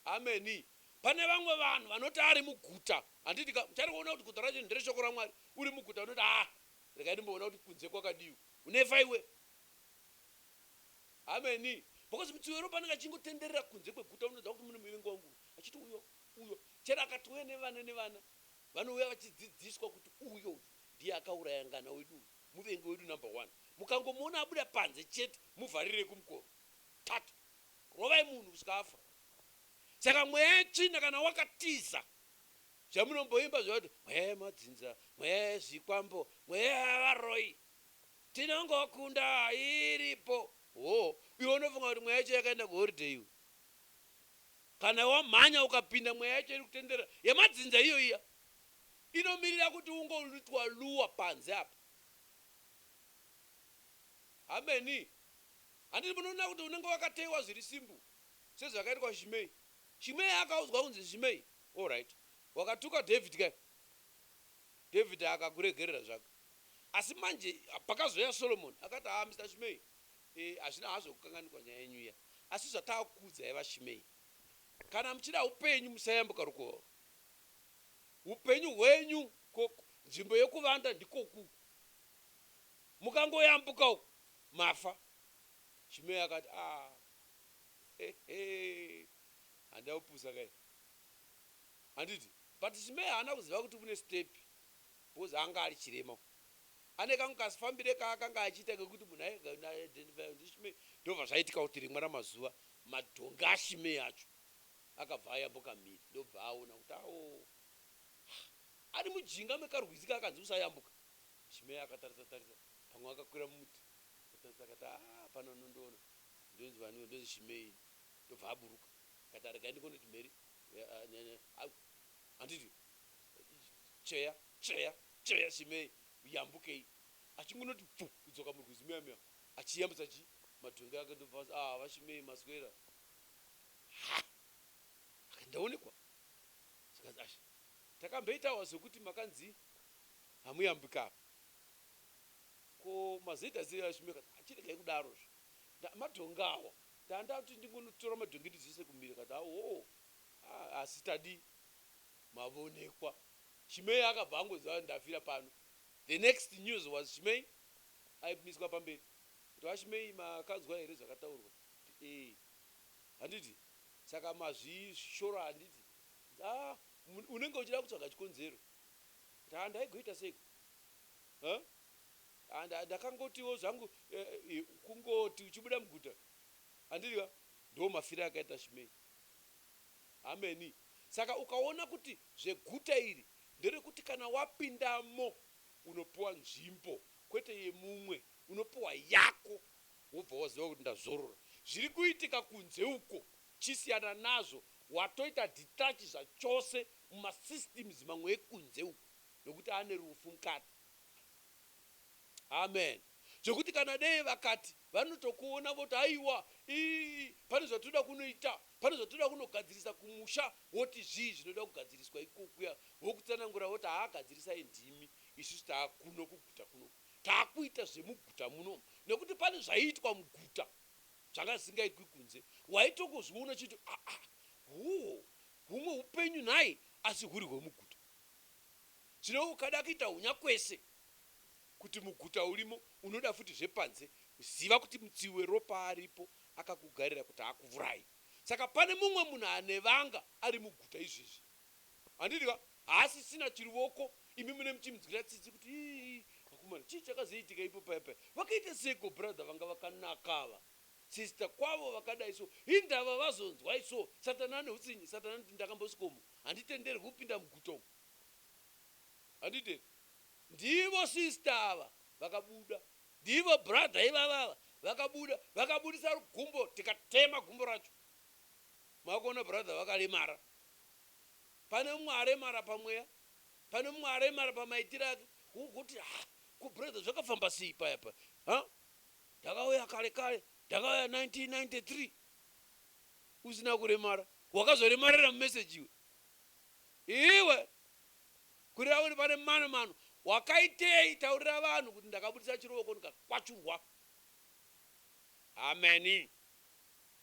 hameni pane vamwe vanhu vanoti ari muguta handiti ka muchari kuona kuti guta racho ndere shoko ramwari uri muguta unoti haa regai ndimboona kuti kunze kwakadii unefa iwe hameni because mutsiwero panenge achingotenderera kunze kweguta unoziva kuti mune muvengi wangu achiti uyoo Uyo chero akatouya nevana nevana vanouya vachidzidziswa kuti uyo uyu ndiye akauraya ngana wedu uyu muvengi wedu number one mukangomuona abuda panze chete muvharirei kumukova tatu rovai munhu kusvika afa saka mweya yetsvina kana wakatiza zvamunomboimba zviya kuti mweya yemadzinza mweya yezvikwambo mweya yevaroi tinongokunda iripo hoo iwe unofunga kuti mweya yacho yakaenda kuholiday iwe Kana wamhanya ukapinda mweya yacho iri kutenderera yemadzinza iyo iya inomirira kuti ungoitwa luwa panze apa. Hameni. Handiti munoona kuti unenge wakateyiwa zviri simple sezvakaitwa Shimei. Shimei akaudzwa kunzi Shimei alright wakatuka David ka David akakuregerera zvake asi manje pakazouya Solomon akati haa Mister Shimei Eeh hazvina hazvo kukanganikwa nyaya yenyu iya asi zvataakukuudzai vaShimei kana muchida hupenyu musayambuka rukova urwu hupenyu hwenyu ko nzvimbo yekuvanda ndikoku uku mukangoyambuka uku mafa Shimei akati aah hehee handina kupusa kaini handiti but Shimei haana kuziva kuti kune step because anga ari chirema Ane kangu kazifambire kaakanga achiita kekuti munhu airega kundiidentifya ndiShimei. Ndozvazvaitika kuti rimwe ramazuva madhongi aShimei acho akabva ayambuka mhiri ndokubva aona kuti awo haa ari mujinga mekarwizi kaakanzi usayambuka. Shimei akatarisa tarisa pamwe akakwira mumuti akatarisa akati haa hapana anondiona ndonzi vaniwo ndonzi Shimei ini ndobva aburuka akati aregai ndingondoti mheri handiti tsveya tsveya Chaya chimee uyambukei achingonoti pfu kudzoka murwizi meya meya achiyambutsa chii madhongi ake ndobva anzi aah vachimei maswera haa akati ndaonekwa zvikanzi ash takamboitawa zvekuti makanzi hamuyambuke apa ko mazoita sei vachimei akati aah chiregai kudaro zve nda madhongi awa ndandati ndingonotora madhongi ndidzose kumhiri akati hawoo aah asi tadii mavonekwa Chimei akabva angoziva ndafira pano. The next news was Chimei aimiswa pamberi kuti VaChimei makanzwa here zvakataurwa kuti ee handiti saka mazvishora handiti ah unenge uchida kutsvaga chikonzero kuti ah ndaigoita seiko huh? and ndakangotiwo zvangu eh, eh, kungoti uchibuda muguta handiti ka ndo mafira akaita Chimei Hameni. Saka ukaona kuti zveguta iri nderekuti kana wapindamo unopiwa nzvimbo kwete yemumwe unopiwa yako wobva waziva kuti ndazorora. Zviri kuitika kunze uko chisiyana nazvo watoita detach zvachose muma systems mamwe ekunze uko nekuti ane rufu mukati. Amen. Zvekuti kana dei vakati vanotokuona voti haiwa ii pane zvatinoda kunoita Pane zvatoda kunogadzirisa kumusha woti zvii zvinoda kugadziriswa ikokuya vokutsanangura voti haa gadzirisai ndimi isusu taakuno kuguta kuno taakuita zvemuguta muno nekuti pane zvaiitwa muguta zvanga zvisingaitwi kunze waitongozviona chiti aa huho humwe hupenyu nhai asi huri hwemuguta zvino ukada kuita hunyakwese kuti muguta urimo unoda futi zvepanze ziva kuti mutsivi weropa aripo akakugarira kuti akuvuraye saka pane mumwe munhu anevanga ari muguta izvezvi handiti ka haasisina chiruvoko imi mune muchimunzwira tsitsi kuti ii vakomana chii chakazoitika ipo paya paya vakaita seiko brother vanga vakanaka ava sister kwavo vakadai so hindava vazonzwai so satani ane hutsinye satani anoti ndakambosvikomo handitenderwi kupinda muguta umu handiti Ndivo sister ava vakabuda. Ndivo brother ivava ava vakabuda vakabudisa gumbo tikatema gumbo racho. Makuona brother vakaremara. Pane mumwe aremara pamweya. Pane mumwe aremara pamaitire ake. Wogoti ha ko brother zvakafamba sei paya paya ha ndakauya kare kare ndakauya 1993 usina kuremara. Wakazoremarira mumessage iwe. Iwe. Kurira uri pane mano mano wakaitei taurira vanhu kuti ndakabudisa chirovoko ndikakwachurwa. Hameni.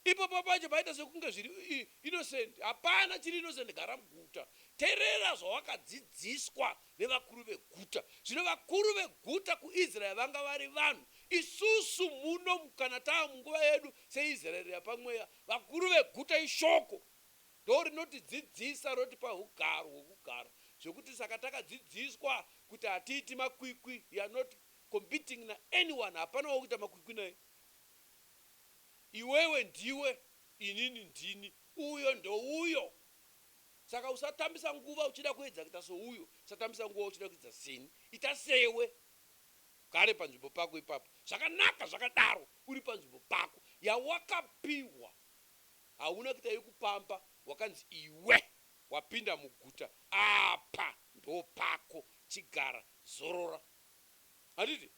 Ipapo pacho paita sekunge zviri innocent hapana chiri innocent gara muguta terera zvawakadzidziswa nevakuru veguta zvino vakuru veguta kuIsrael vanga vari vanhu isusu muno kana tava munguva yedu seIsrael yapamweya vakuru veguta ishoko ndorinotidzidzisa rotipa ugaro hwekugara zvekuti saka takadzidziswa kuti hatiiti makwikwi we are not competing na anyone hapana waukuita makwikwi naye iwewe ndiwe inini ndini uyo ndouyo saka usatambisa nguva uchida kuedza kuita souyo usatambisa nguva uchida kuidza seni ita sewe ugare panzvimbo pako ipapo zvakanaka zvakadaro uri panzvimbo pako yawakapiwa hauna kuita yekupamba wakanzi iwe wapinda muguta apa ndopako chigara zorora handiti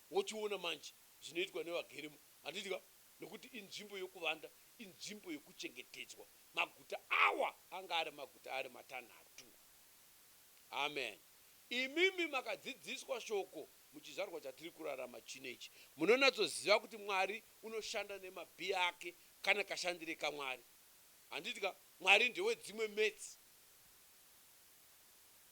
wochiona manje zvinoitwa nevagerimo handiti ka nekuti inzvimbo yekuvanda inzvimbo yekuchengetedzwa maguta awa anga ari maguta ari matanhatu amen imimi makadzidziswa shoko Muchizvarwa chatiri kurarama chino ichi, munonatsoziva kuti Mwari unoshanda nemabhii ake kana kashandire kaMwari. Handiti ka? Mwari ndewedzimwe maths.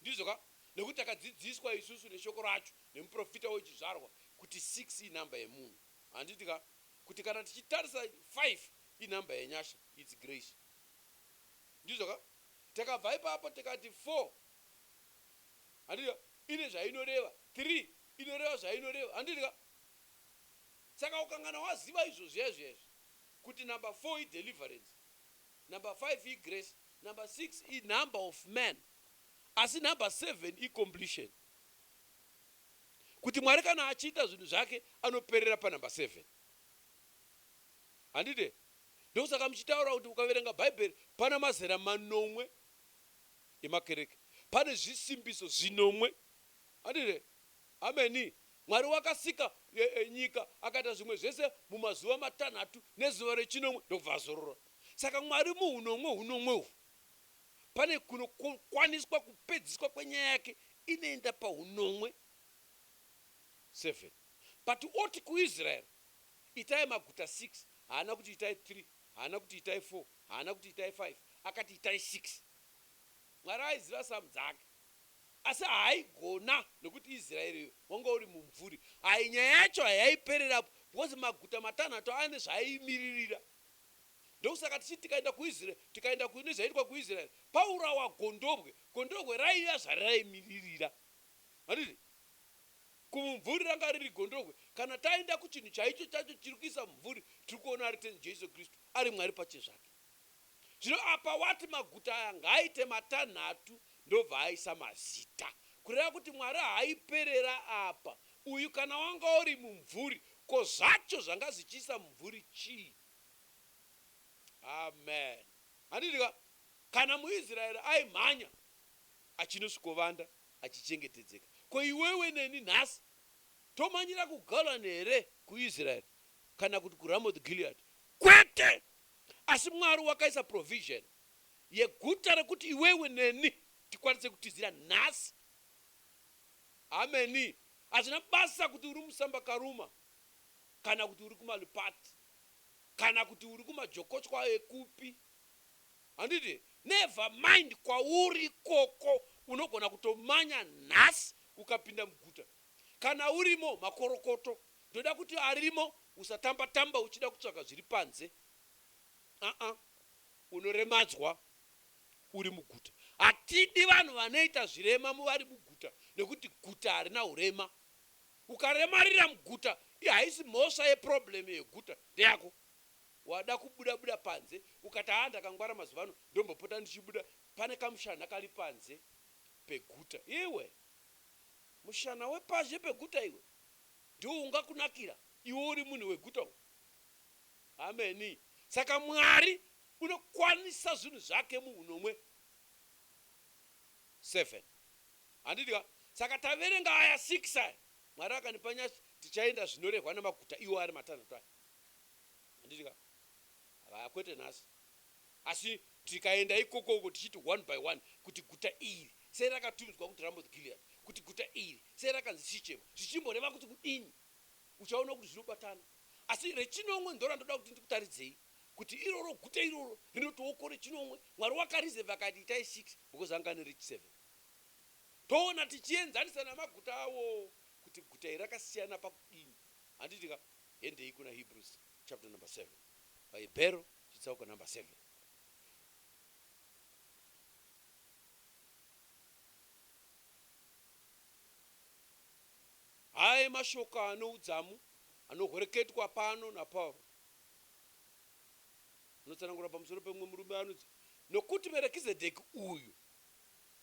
Ndizvo ka? Nekuti takadzidziswa isusu neShoko racho, nemuprofita wechizvarwa, kuti six inhamba yemunhu. Handiti ka? Kuti kana tichitarisa five inhamba yenyasha, it's grace. Ndizvo ka? Takabva ipapo tikati four. Handitika ine zvainoreva three inoreva zvainoreva handitika saka ukangana waziva izvo zviya zviya izvi kuti number four i deliverance number five i grace number six i number of man asi number seven i completion kuti Mwari kana achiita zvinhu zvake anoperera pa number seven handide ndokusaka muchitaura kuti ukaverenga bhaibheri pana mazera manomwe yemakereke pane zvisimbiso zvinomwe. Handi here? Ameni. Mwari wakasika nyika, akaita zvimwe zvese mumazuva matanhatu nezuva rechinomwe ndokubva azorora. Saka Mwari muhunomwe hunomwe uhwu, pane kunokwaniswa kupedziswa kwenyaya yake inoenda pahunomwe 7. But oti kuIsrael, itai maguta 6, haana kuti itai 3, haana kuti itai 4, haana kuti itai 5, akati itai 6. Mwari aiziva samu dzake asi haaigona nekuti Israel uyo wanga uri mumvuri hai nyaya yacho hayaipererapo because maguta matanhatu ane zvaaimiririra ndokusaka tichiti tikaenda kuIsrael tikaenda ku nezvaitwa kuIsrael paurawa gondobwe gondobwe raiva zvariraimiririra mariri kumumvuri ranga riri gondobwe kana taenda kuchinhu chaicho chacho chiri kuisa mumvuri tiri kuona ari ten Jesu Kristu ari Mwari pachezvake Zvino apa wati maguta aya ngaaite matanhatu ndobva aisa mazita. Kureva kuti Mwari haiperera apa. Uyu kana wanga uri mumvuri ko zvacho zvanga zvichiisa mumvuri chii? Amen. Handiti ka? Kana muIsraeri aimhanya achinosvikovanda achichengetedzeka, ko iwewe neni nhasi tomhanyira kuGolan here, kuIsraeri kana kuti kuRamoth Gilead? Kwete! Asi Mwari wakaisa provision yeguta rekuti iwewe neni tikwanise kutizira nhasi. Hameni. Hazvina basa kuti uri musamba karuma kana kuti uri kumalipati kana kuti uri kumajokochwa ekupi. Handiti? Never mind kwauri ikoko unogona kutomanya nhasi ukapinda muguta Kana urimo makorokoto ndoda kuti arimo usatamba tamba uchida kutsvaga zviri panze aa unoremadzwa uri muguta hatidi vanhu vanoita zvirema muvari muguta nekuti guta harina hurema ukaremarira muguta ihaisi mhosva ye problem yeguta ndeyako wada kubuda buda panze ukati haa ndakangwara mazuvano ndombopota ndichibuda pane kamushanha kari panze peguta iwe Mushana wepazhe peguta iwe ndiwo ungakunakira iwe uri munhu weguta uyu. Ameni. Saka Mwari unokwanisa zvinhu zvake muhunomwe. Seven. Handiti ka? Saka taverenga aya six aya, Mwari akandipa nyasha, tichaenda zvinorehwa nemaguta iwo ari matanhatu aya. Handiti ka? Haya, kwete nhasi. Asi tikaenda ikokoko tichiti one by one kuti guta iri sei rakatumidzwa kuti Ramoth Gilead, kuti guta iri sei rakanzi Sichemo, zvichimboreva kuti kudini, uchaona kuti zvinobatana. Asi rechinomwe ndorandoda kuti ndikutaridzei kuti iroro guta iroro rinotiwoko rechinomwe Mwari wakareserver akati itai six because anga ane reach seven. Toona tichienzanisa namaguta awowo kuti guta iri rakasiyana pakudini. Handiti ka? Hendei kuna Hebrews chapter number seven. Bhaibhero Chitsauko number seven. Aya emashoko ano udzamu anohoreketwa pano naPauro. Anotsanangura pamusoro pemumwe murume anonzi, Nokuti Merekizedheki uyu,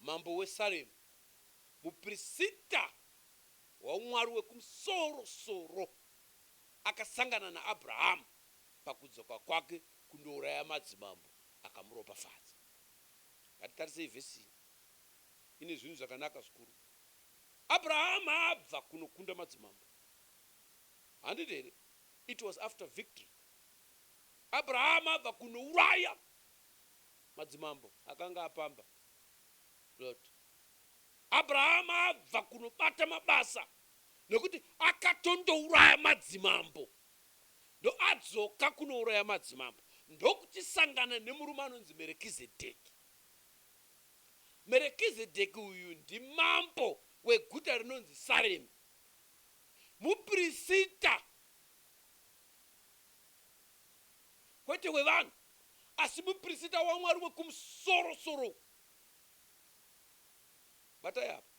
mambo weSaremu, muprisita waUmwari wekumusoro-soro, akasangana naAbhurahamu. pakudzoka kwake kundouraya madzimambo akamuropafadza. Ngatitarisei vhesi iyi ine zvinhu zvakanaka zvikuru. Abrahama abva kunokunda madzimambo, handiti here? It was after victory. Abrahama abva kunouraya madzimambo akanga apamba Lot. Abrahama abva kunobata mabasa nekuti akatondouraya madzimambo. ndoadzoka kunouraya madzimambo ndokuchisangana nemurume anonzi Merekizedheki. Merekizedheki uyu ndimambo weguta rinonzi Saremi, mupirisita kwete wevanhu asi mupirisita waMwari wekumusoro soro uku. Batai apa.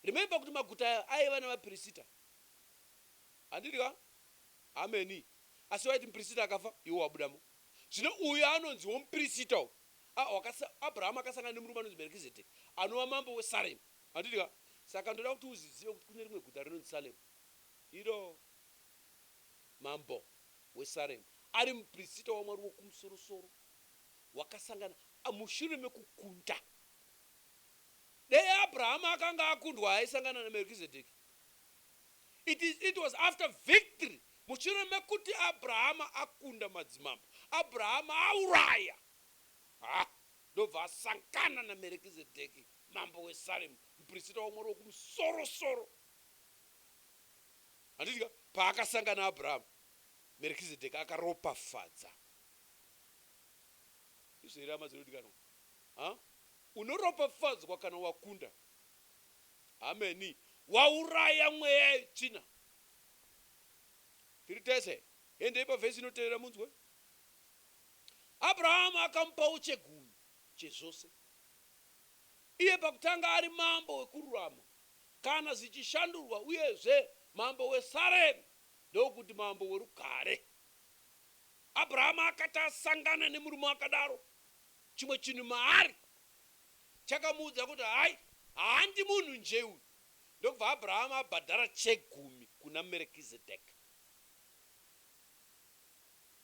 Remember kuti maguta aya aiva nevapirisita. Handidi ka? Hameni. Asi waiti mupirisita akafa, iwe wabudamo. Zvino uyu anonzi womupirisita uyu, a, wakasa, Abrahama akasangana nemurume anonzi Merkizedheki, anova mambo weSaremu. Handidi ka? Saka ndoda kuti uzvizive kuti kune rimwe guta rinonzi Saremu, iro mambo weSaremu ari mupirisita waMwari Wokumusorosoro wakasangana, a, mushure mekukunda. Dei Abrahama akanga akundwa aisangana naMerkizedheki. It is it was after victory mushure mekuti Abrahama akunda madzimambo Abrahama auraya ha ndobva asangana na Merekizedheki mambo we Salemu muprisita waMwari wekumusoro soro handiti ka paakasangana Abrahama Merekizedheki akaropafadza izvo here hama dzinodikanwa ha unoropafadzwa kana wakunda Hameni. Wauraya mweya yetsvina. Tiri tese. Endei pavhesi inotevera munzwe. Abrahamu akamupawo chegumi chezvose. Iye pakutanga ari mambo wekururama, kana zvichishandurwa, uyezve mambo weSaremu, ndokuti mambo werugare. Abrahamu akati asangana nemurume akadaro, chimwe chinhu maari chakamuudza kuti hayi, handi munhu nje uyu. Ndokubva Abrahama abhadhara chegumi kuna Merekizedheki.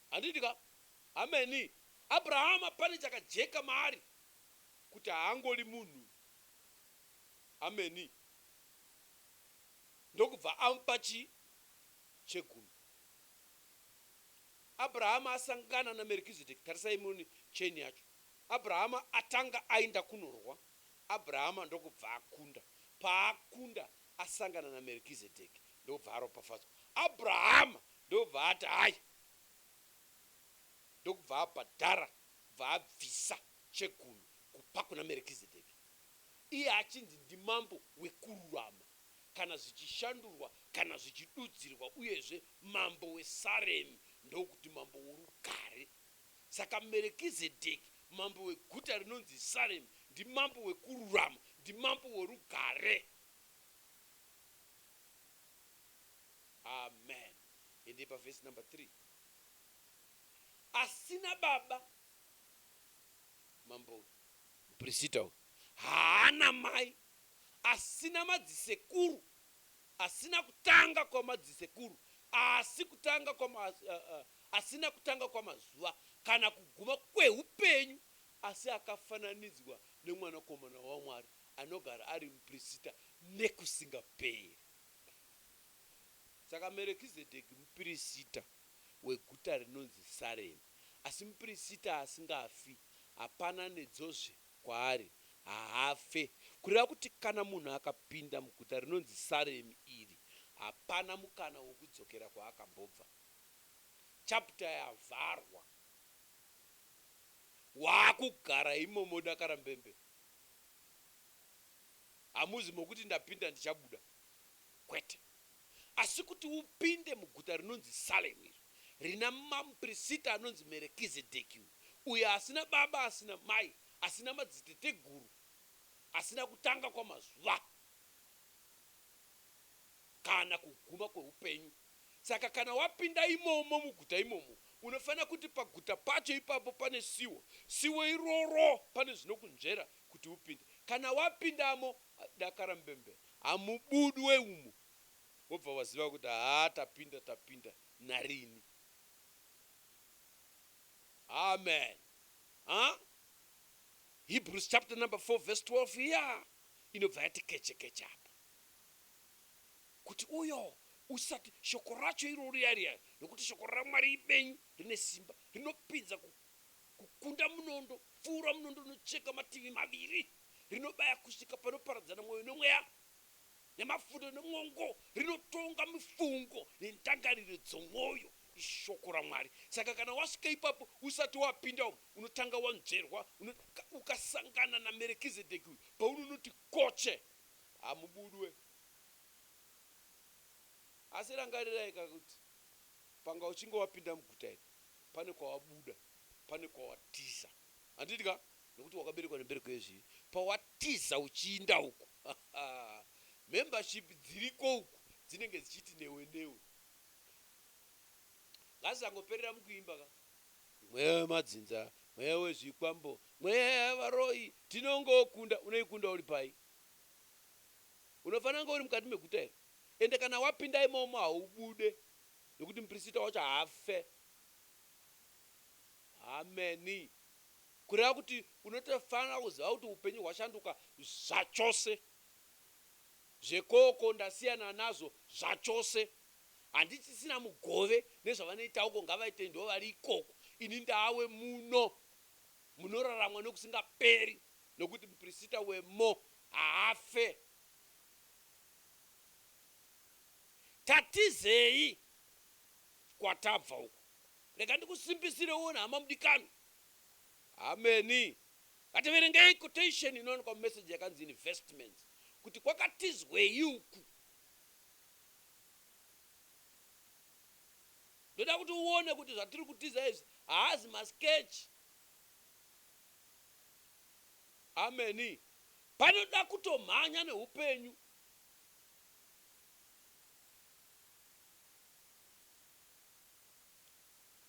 Handiti ka? Ameni. Abrahama pane chakajeka maari kuti haangori munhu uyu. Ameni. Ndokubva amupa chii? Chegumi. Abrahama asangana naMerekizedheki, tarisai muone chain yacho. Abrahama atanga ainda kunorwa, Abrahama ndokubva akunda. Paakunda, asangana naMerkizedheki, ndokubva aropafadzwa. Abrahama ndokubva ati hai, ndokubva abhadhara, kubva abvisa chegumi kupa kuna Merkizedheki, iye achinzi ndimambo wekururama, kana zvichishandurwa, kana zvichidudzirwa, uyezve mambo weSaremi, ndokuti mambo worugare. Saka Merekizedheki, mambo weguta rinonzi Saremi, ndimambo wekururama, ndimambo worugare. Amen. Endei paverse number three. Asina baba mambo uyu. Mupirisita uyu haana mai, asina madzisekuru. Asina kutanga kwamadzisekuru, asi kutanga kwama, asina kutanga kwamazuva, kana kuguma kwehupenyu, asi akafananidzwa neMwanakomana waMwari, anogara ari muprisita nekusingaperi. Saka Merekizedheki muprisita weguta rinonzi Saremi, asi muprisita asingafi. Hapana nedzozve Kwaari, haafe. Kureva kuti kana munhu akapinda muguta rinonzi Saremi iri, hapana mukana wokudzokera kwaakambobva. Chapter yavharwa. Waakugara imomo odakara mbembe. Hamuzi mokuti ndapinda ndichabuda. Kwete. asi kuti upinde muguta rinonzi Salemu iro rina mamuprisita anonzi Merekizedheki, uyo, uyo asina baba asina mai asina madziteteguru asina kutanga kwamazuva kana kuguma kweupenyu. Saka kana wapinda imomo muguta imomo, unofanira kuti paguta pacho ipapo pane siwo, siwo iroro pane zvinokunzvera kuti upinde. Kana wapindamo, Dakara mbembe hamubudwe umu wobva waziva kuti haa tapinda tapinda narini. Amen haa Hebrews chapter number 4 verse 12 iya inobva yati keche keche apa kuti uyo usati shoko racho iro riya riya nokuti shoko raMwari ibenyu rine simba rinopinza kukunda munondo pfuura munondo unocheka mativi maviri rinobaya kusvika panoparadzana mwoyo nomweya, nemafunde nomwongo, rinotonga mifungo nendangariro dzomwoyo, iShoko raMwari. Saka kana wasvika ipapo, usati wapinda umu, unotanga wanzverwa, uno, ka, ukasangana naMerekizedheki uyu, paunonoti koche, hamubudwe. Asi rangarirai ka kuti panga uchinge wapinda muguta iri, pane kwawabuda, pane kwawatiza. Handiti ka? Nokuti wakaberekwa nembereko yezvivi pawatiza uchiinda uku hahaa membership dziriko uku dzinenge dzichiti newe newe ngazangoperera mukuimba ka. Mweya wemadzinza, mweya wezvikwambo, mweya yevaroyi tinongokunda. Unoikunda uri pai? Unofanira kunge uri mukati meguta iri ende kana wapinda imomo haubude nokuti muprisita wacho haafe. Hameni. Kureva kuti unotofanira kuziva kuti hupenyu hwashanduka zvachose. Zvekoko ndasiyana nazvo zvachose. Handichisina mugove nezvavanoita uko ngavaite ndivo vari ikoko ini ndave muno munoraramwa nekusingaperi nekuti mupirisita wemo haafe. Tatizei kwatabva uko. Rega ndikusimbisirewo nhama mudikanwi. Hameni. Ngativerengei quotation inowanikwa mumeseji yakanzi investments kuti kwakatizwei uku. Ndoda kuti uone kuti zvatiri kutiza izvi haazi masketch. Hameni. Panoda kutomhanya neupenyu.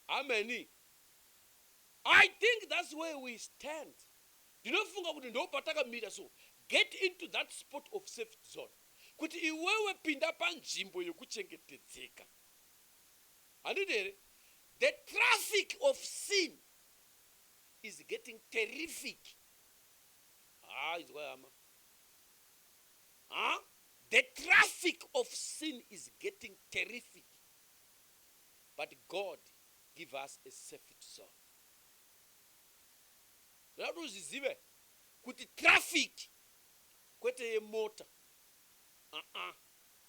Hameni. I think that's where we stand ndinofunga kuti ndoopatakamira so get into that spot of safety zone kuti iwewe pinda panzvimbo yekuchengetedzeka handiti here the traffic of sin is getting terrific haa ah, inzwai hama haa The traffic of sin is getting terrific. But God give us a safety zone ndoda kuti uzvizive kuti traffic kwete yemota aa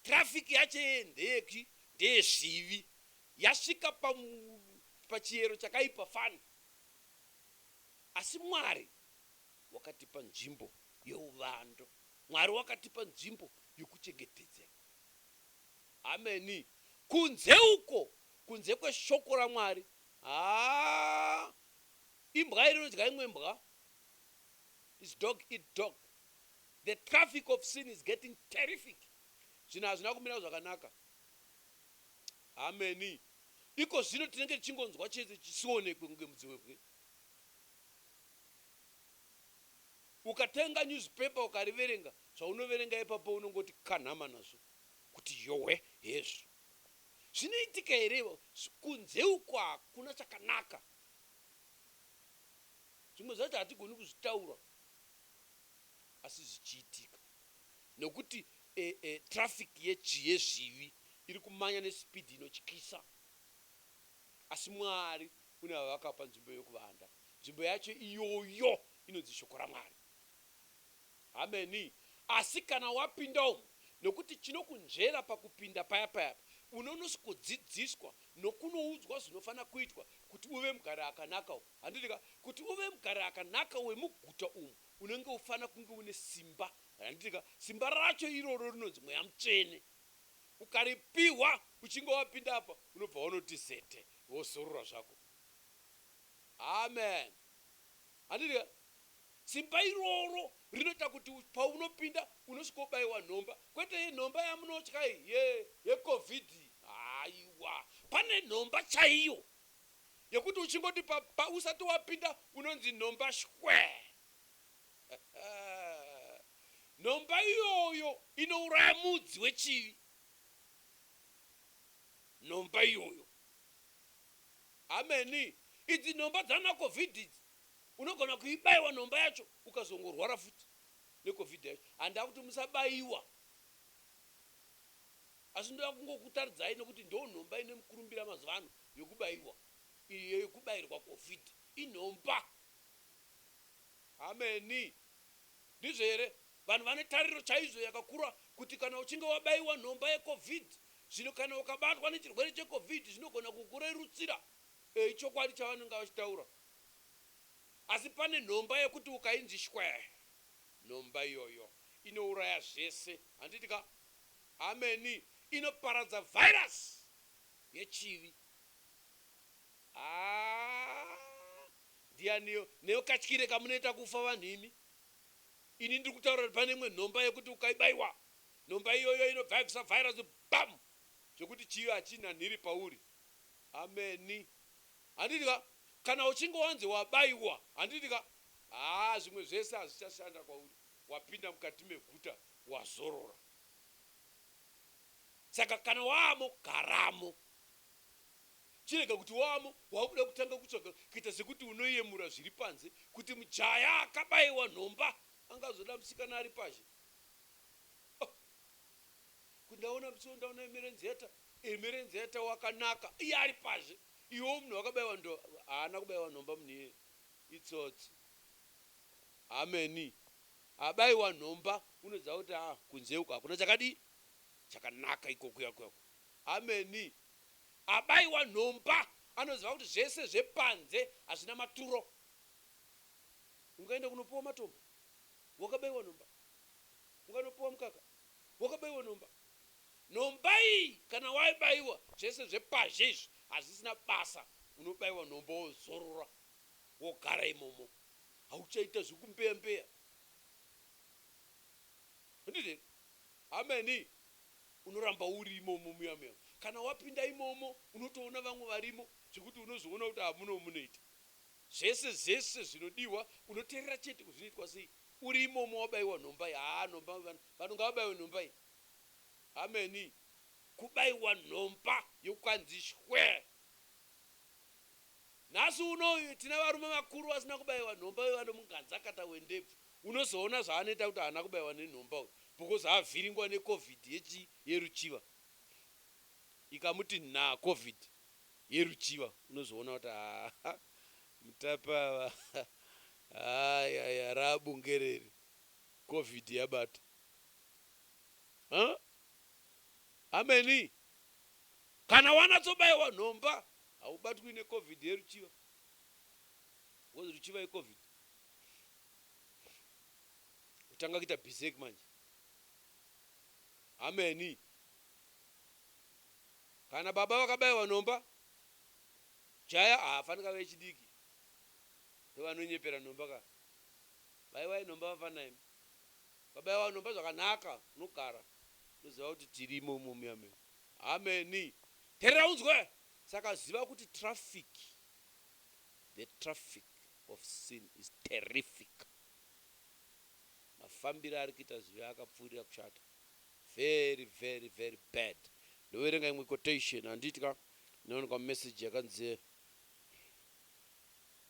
traffic yacho yeye ndeyeki ndeyezvivi yasvika pa pachiyero chakaipa fani asi mwari wakatipa nzvimbo yeuvando mwari wakatipa nzvimbo yekuchengetedzeka Hameni. Kunze uko, kunze kweShoko raMwari. Haa! Imbwa iri inodya imwe mbwa. It's dog eat dog. The traffic of sin is getting terrific. Zvinhu hazvina kumira zvakanaka. Hameni. Iko zvino tinenge tichingonzwa chete chisionekwe kunge mudziwebwe. Ukatenga newspaper ukariverenga, Zvaunoverenga ipapo unongoti kanhama nazvo kuti yowe hezvo zvinoitika here ivo kunze uko hakuna chakanaka zvimwe zvacho hatigoni kuzvitaura asi zvichiitika nekuti e, e, traffic yezvivi iri kumanya nespeed inotyisa asi mwari une vavakapa nzvimbo yokuvanda nzvimbo yacho iyoyo inonzi shoko ramwari Hameni. Asi kana wapinda umu, nokuti chinokunzvera pakupinda paya paya apa, unonos kudzidziswa nokunoudzwa zvinofanira kuitwa kuti uve mugari akanaka umu. Handiti ka? Kuti uve mugari akanaka wemuguta umu, unenge ufanira kunge une simba. Handiti ka? Simba racho iroro rinonzi Mweya Mutsvene. Ukaripihwa uchinge wapinda apa, unobva wanoti zete, wozorora zvako. Amen. Handiti ka? Simba iroro rinoita kuti paunopinda unosvika wobaiwa nhomba kwete ye nhomba yamunotya iyi ye ye covid iyi haiwa pane nhomba chaiyo yekuti uchingoti pa pa usati wapinda unonzi nhomba shwee nhomba iyoyo inouraya mudzi wechivi nhomba iyoyo hameni idzi nhomba dzana covid idzi Unogona kuibaiwa nhomba yacho ukazongorwara futi neCovid yacho. Handava kuti musabaiwa asi ndoda kungokutaridzai nekuti ndoo nhomba ine mukurumbira mazuva ano yekubaiwa iyi yekubairwa Covid inhomba. Hameni. Ndizvo here? Vanhu vane tariro chaizvo yakakura kuti kana uchinge wabaiwa nhomba yeCovid zvino kana ukabatwa nechirwere cheCovid zvinogona kukurerutsira. Eyi chokwadi chavanenge vachitaura. Asi pane nhomba yekuti ukainzi shwee nhomba iyoyo inouraya zvese handiti ka? Hameni inoparadza virus yechivi haa ndianiyo newe katyire kamunoita kufa vanhu imi ini ndiri kutaura kuti pane imwe nhomba yekuti ukaibaiwa nhomba iyoyo inobva yabvisa virus bam zvekuti chivi hachina nhiri pauri hameni. Handiti ka kana uchinge wanzi wabaiwa handiti ka haa zvimwe zvese hazvichashanda kwauri wapinda mukati meguta wazorora saka kana waamo garamo chirega kuti waamo wakuda kutanga kutsvaga kuita sekuti unoyemura zviri panze kuti mujaya akabaiwa nhomba angazoda musikana ari pazhe oh. kuti ndaona mtsiwo ndaona mirenze yata iri mirenze yata wakanaka iye ari pazhe Iwe munhu wakabaiwa ndo haana kubaiwa nhomba munhu iyeye itsotsi hameni abaiwa nhomba unoziva kuti haa kunze uku hakuna chakadii chakanaka iko kuya kuya uko hameni abaiwa nhomba anoziva kuti zvese zvepanze hazvina maturo ungaenda kunopiwa matombo wakabaiwa nhomba ukanopiwa mukaka wakabaiwa nhomba Nhomba iyi kana waibaiwa zvese zvepazhe izvi hazvisina basa unobaiwa nhomba wozorora wogara imomo hauchaita zvekumbeya mbeya handiti here hameni unoramba uri imomo muya muya kana wapinda imomo unotoona vamwe varimo zvekuti unozoona kuti hamuno munoita zvese zvese zvinodiwa unoterera chete kuzvinoitwa sei uri imomo wabaiwa nhomba iyi haa nhomba vana Vanhu ngavabaiwe nhomba iyi hameni. Kubaiwa nhomba yokwanzi shwee. Nhasi uno tine varume vakuru vasina kubaiwa nhomba vevano munganzakata wendebvu unozoona zvaanoita kuti haana kubaiwa nenhomba uyu because avhiringwa ne covid yechi yeruchiva ikamuti nhaa covid yeruchiva unozoona kuti haa mutape ava haa yaya raa bunge riri. Covid yabata huh hameni kana wanatsobaiwa nhomba haubatwi ne Covid yeruchiva because ruchiva i Covid kutanga kuita bizek manje hameni kana baba vakabaiwa nhomba jaya haafanika vechidiki ndovanonyepera nhomba kana Baiwai nhomba vafana imi. Ukabaiwa nhomba zvakanaka unogara unoziva kuti tiri imomo muya medu. Amen. Terera unzwe. Saka ziva kuti traffic, the traffic of sin is terrific. Mafambire ari kuita zvivi akapfuurira kushata. Very very very bad. Ndoverenga imwe quotation handiti ka inowanikwa mumessage yakanzi.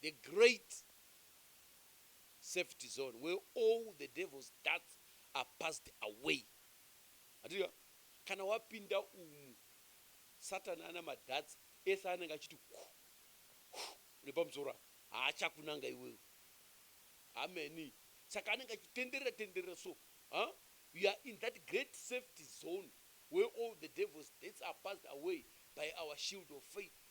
The great safety zone where all the devil's darts are passed away. Handitika kana wapinda umu Satan ana madarts ese anenge achiti ku ku nepamusoro apa haachakunanga iwewe. Hameni. Saka anenge achitenderera tenderera so. Ha? You are in that great safety zone where all the devil's darts are passed away by our shield of faith.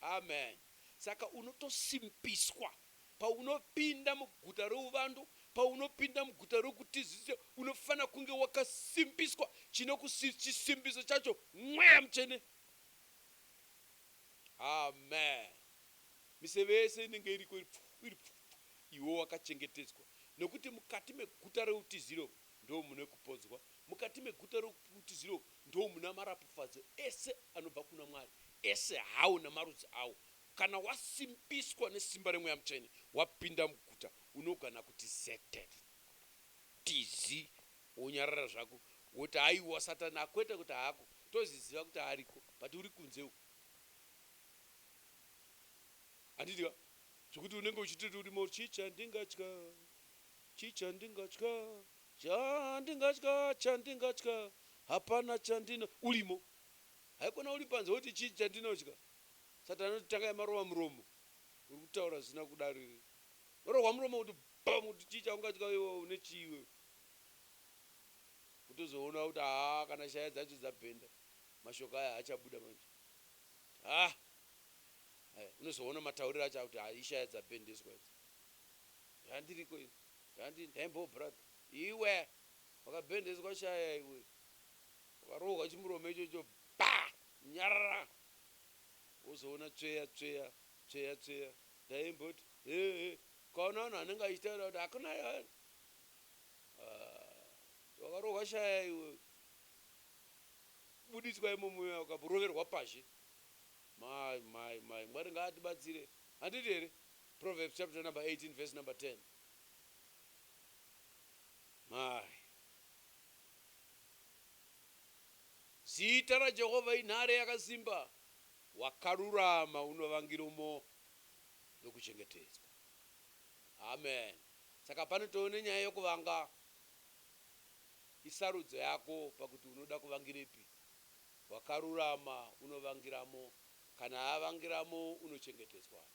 Amen. Saka unotosimpiswa paunopinda muguta reuvando, paunopinda muguta rokutizisa, unofanira kunge wakasimpiswa. Chinokusi, chisimbiso chacho Mweya Mutsvene. Amen. Miseve yese inenge iriko iri pfu, iri pfu, pfu. Iwe wakachengetedzwa, nokuti mukati meguta reutiziro umu ndoo mune kupodzwa, mukati meguta reutiziro umu Ndomuna marapufadzo ese anobva kuna Mwari, ese hawo namarudzi awo. Kana wasimbiswa nesimba reMweya Mutsvene, wapinda muguta, unogona kuti zetef, tizi, wonyarara zvako, woti, Haiwa, Satani akwete kuti haako. Tozviziva kuti ariko, but uri kunze uko. Handiti ka? Zvekuti unenge uchitoti uri mauri, Chii chandingatya? Chii chandingatya? Chandingatya chandingatya hapana chandina urimo haikona uri panze woti chii chandinotya Satan anoti tangai marova muromo uri kutaura zvisina kudaro iwe unorohwa muromo kuti bam kuti chii chaungatya iwe une chii iwewe kutozoona kuti haa kana shaya dzacho dzabhenda mashoko aya haachabuda manje haa Aya unozoona matauriro acho akuti haa ishaya dzabhendeswa idzi zvandiriko ini Zvanzi nhenbho brother iwe. Wakabhendeswa shaya iwe. Wakarohwa chimuromo ichocho bba! Nyarara! Wozoona tsveya tsveya tsveya tsveya ndaimboti hee ukaona vanhu vanenge vachitaura kuti hakuna vanhu aah wakarohwa shaya iwe. Kubuditswa imomo uya ukaroverwa pazhe. Mai mai mai Mwari ngaatibatsire handiti here? Proverbs chapter number 18 verse number 10. My. Zita raJehovha inhare yakasimba, wakarurama unovangiromo nokuchengetedzwa. Amen. Saka pano tove nenyaya yokuvanga. Isarudzo yako pakuti unoda kuvangirepi. Wakarurama unovangiramo, kana avangiramo unochengetedzwa.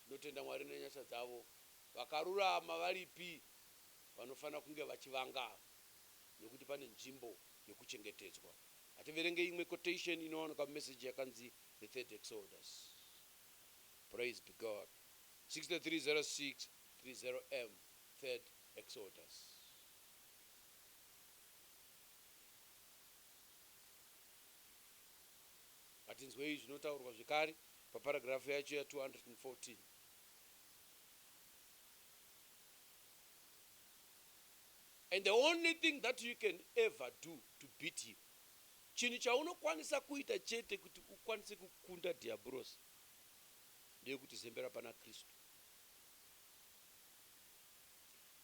Tinotenda Mwari nenyasha dzavo. Vakarurama varipi vanofanira kunge vachivanga ava nekuti pane nzvimbo yekuchengetedzwa. Hativerenge imwe quotation inowanikwa mumessage yakanzi the third exodus. Praise be God. 630630 M third exodus. Ngatinzwei zvinotaurwa zvekare Paparagrafu yacho ya 214. And the only thing that you can ever do to beat him, chinhu chaunokwanisa kuita chete kuti ukwanise kukunda Dhiabhorosi, ndeyekuti zembera pana Kristu,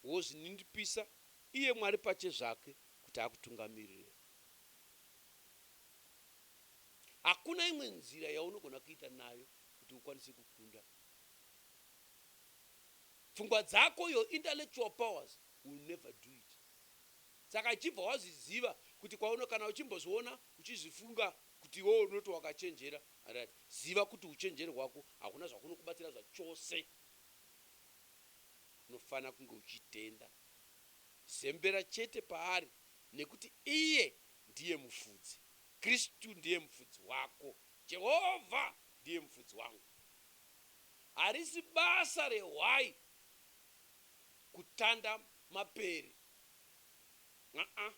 wozvininipisa iye Mwari pachezvake kuti akutungamirire. Hakuna imwe nzira yaunogona kuita nayo kuti ukwanise kukunda. Pfungwa dzako, your intellectual powers will never do it. Saka ichibva wazviziva kuti kwauno kana uchimbozviona uchizvifunga kuti iwewe unoti wakachenjera, alright, ziva kuti uchenjeri hwako hakuna zvakunokubatsira zvachose. Unofanira kunge uchitenda. Zembera chete paari nekuti iye ndiye mufudzi. Kristu ndiye mufudzi wako. Jehovha ndiye mufudzi wangu. Harisi basa rehwai kutanda mapere. Aa.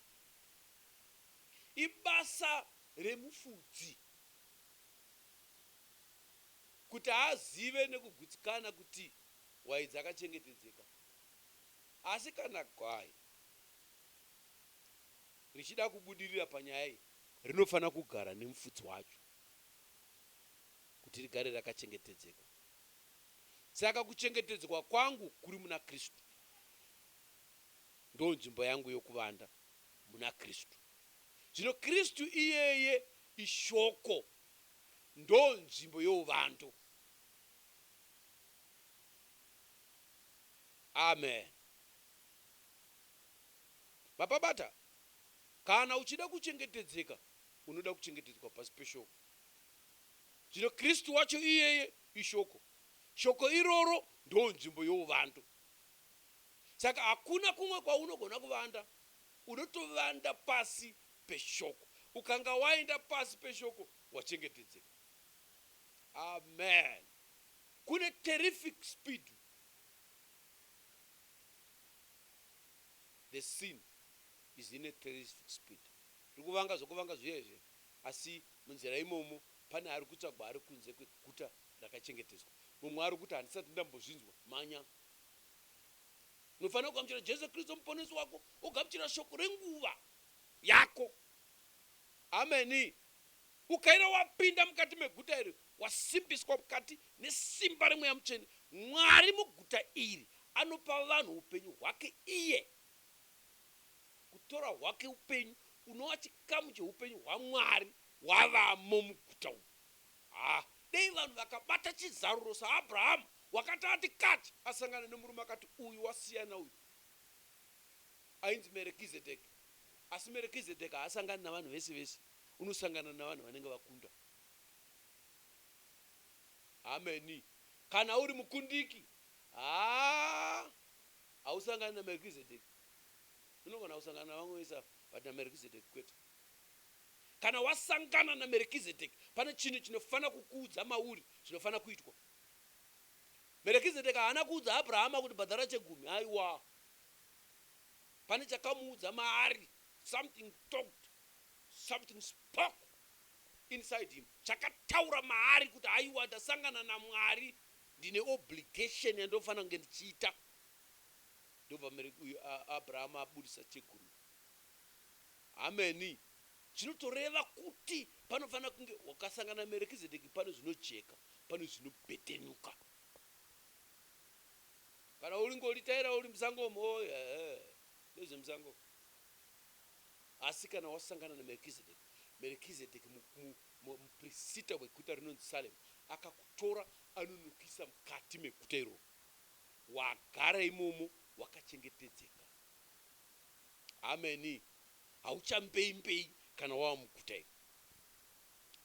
Ibasa remufudzi kuti azive nekugutsikana kuti hwai dzakachengetedzeka. Asi kana hwai Richida kubudirira panyaya iyi rinofanira kugara nemufudzi wacho kuti rigare rakachengetedzeka. Saka kuchengetedzwa kwangu kuri muna Kristu. Ndonzvimbo yangu yokuvanda muna Kristu. Zvino Kristu iyeye iShoko, ndonzvimbo youvando. Amen. Baba Bata kana uchida kuchengetedzeka unoda kuchengetedzwa pasi peshoko. Zvino Kristu wacho iyeye ishoko. Shoko iroro ndoo nzvimbo youvando. Saka hakuna kumwe kwaunogona kuvanda, unotovanda pasi peshoko. Ukanga waenda pasi peshoko wachengetedzeka. Amen. Kune terrific speed. the scene is in a terroristic speed rikuvanga zvekuvanga zviya izvi asi munzira imomo pane arikutsvagwa ari kunze kweguta rakachengetedzwa mumwe arikuti handisati ndambozvinzwa mhanya unofanira kugamuchira Jesu Kristu muponesi wako wogamuchira shoko renguva yako ameni. Ukaira wapinda mukati meguta iri, wasimbiswa mukati nesimba reMweya Mutsvene. Mwari muguta iri anopa vanhu hupenyu hwake iye. Kutora hwake hupenyu, unova chikamu chehupenyu hwaMwari wavamo muguta umu. Haa, dei vanhu vakabata chizaruro saAbrahamu wakati ati kati asangana nemurume akati uyu wasiyana uyu. Ainzi Merekizedheki. Asi Merekizedheki haasangani navanhu vese vese. Unosangana navanhu vanenge vakunda. Hameni. Kana uri mukundiki, haa hausangani naMerkizedeki. Unogona kusangana navamwe vese ava but naMerkizedeki kwete. Kana wasangana naMerkizedeki, pane chinhu chinofanira kukuudza mauri zvinofanira kuitwa. Merkizedeki haana kuudza Abrahama kuti bhadhara chegumi, haiwa. Pane chakamuudza maari, something talked Something spoke inside him chakataura maari kuti haiwa ndasangana naMwari ndine obligation yandinofanira kunge ndichiita ndobva mere uyu Abraham abudisa chekurudyi hameni zvinotoreva kuti panofanira kunge wakasangana naMerekizedeki pane zvinojeka pane zvinopetenuka kana uringolitaira uri musango mo oh, yeah, yeah. ndezvemusango Asi kana wasangana naMerkizedeki, Merkizedeki mu, mu, mu, muprisita weguta rinonzi Salemu, akakutora anonokuisa mukati meguta iroro, wagara imomo wakachengetedzeka. Ameni. Hauchambeimbei kana wava muguta iri.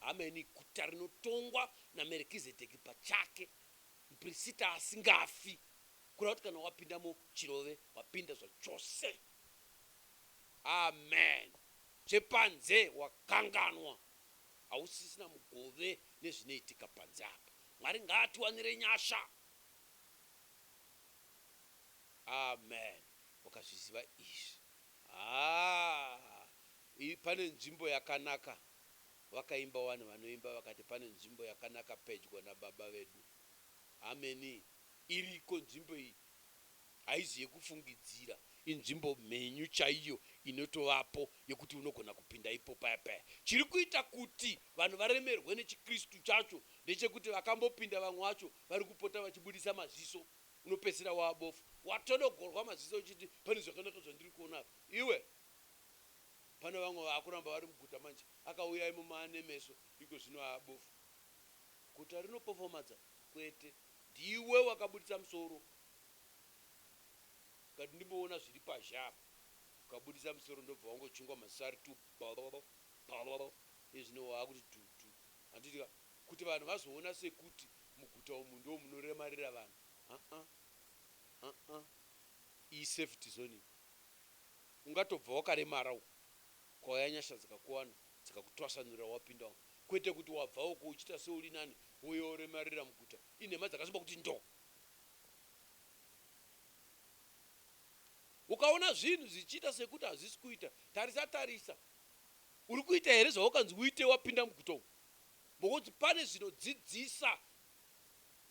Ameni. Guta rinotongwa naMerkizedeki pachake, muprisita asingafi, kureva kuti kana wapindamo chirove, wapinda zvachose. Amen zvepanze wakanganwa hausisina mugove nezvinoitika panze apa mwari ngaatiwanire nyasha. Amen wakazviziva izvi haa pane nzvimbo yakanaka vakaimba wani vanoimba vakati pane nzvimbo yakanaka pedyo nababa vedu hameni iriko nzvimbo iyi Haizi yekufungidzira, inzvimbo mhenyu chaiyo inotovapo yekuti unogona kupinda ipo paya paya. Chiri kuita kuti vanhu varemerwe nechiKristu chacho ndechekuti vakambopinda vamwe vacho vari kupota vachibudisa maziso, unopedzisira wava bofu, watodogorwa maziso uchiti pane zvakanaka zvandiri kuona apa. Iwe! Pane vamwe vava kuramba vari muguta manje, akauya imomo ane meso, ikozvino ava bofu. Guta rinopofomadza? Kwete. Ndiwe wakabuditsa musoro ukati ndimboona zviri pazhe apa ukabuditsa musoro ndobva wangochungwa masari tu bhororo bhororo ezvino waakuti dhudhu handiti ka kuti vanhu vazoona sekuti muguta umu ndoo munoremarira vanhu haa haa iyi safety zone iyi ungatobva wakaremara uku Kwauya nyasha dzikakuwana dzikakutwasanura wapinda umu kwete kuti wabva uko uchiita seuri nani wouya woremarira muguta inhema dzakasimba kuti ndoo. Ukaona zvinhu zvichiita sekuti hazvisi kuita tarisa tarisa uri kuita here zvawakanzi uite wapinda muguta umu because pane zvinodzidzisa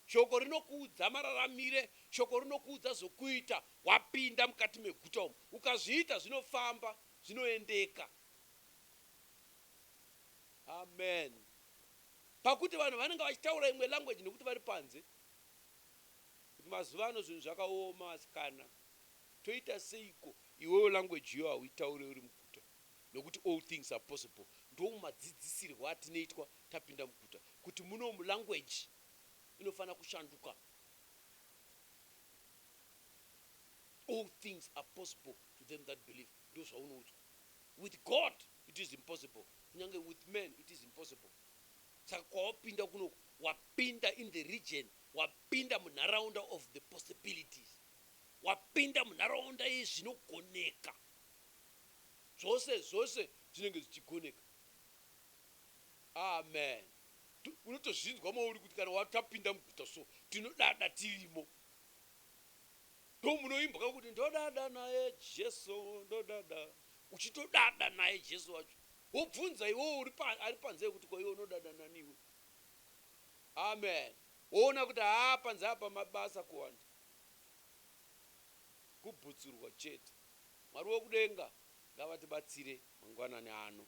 shoko rinokuudza mararamire shoko rinokuudza zvokuita wapinda mukati meguta umu ukazviita zvinofamba zvinoendeka. Amen. Pakuti vanhu vanenge vachitaura imwe language nekuti vari panze. Kuti mazuva ano zvinhu zvakaoma vasikana. Toita seiko iwewe language iyo hauitaure uri muguta? Nekuti all things are possible. Ndomadzidzisirwo atinoitwa tapinda muguta kuti munomu language inofanira kushanduka. All things are possible to them that believe ndozvaunoudzwa. With God it is impossible kunyange with man it is impossible. Saka kwawapinda kunoku wapinda in the region, wapinda munharaunda of the possibilities. Wapinda munharaunda yezvinogoneka. Zvose zvose zvinenge zvichigoneka. Amen. Unotozvinzwa mauri kuti kana watapinda muguta so tinodada tirimo. ndomunoimbwa kuti ndodada naye Jesu ndodada uchitodada naye Jesu wacho wobvunza iwewe uri pa, ari panze kuti ko iwe unodada nani iwe amen woona kuti haa panze apa mabasa kuwanda kubhutsurwa chete mwari wekudenga ngavatibatsire mangwanani ano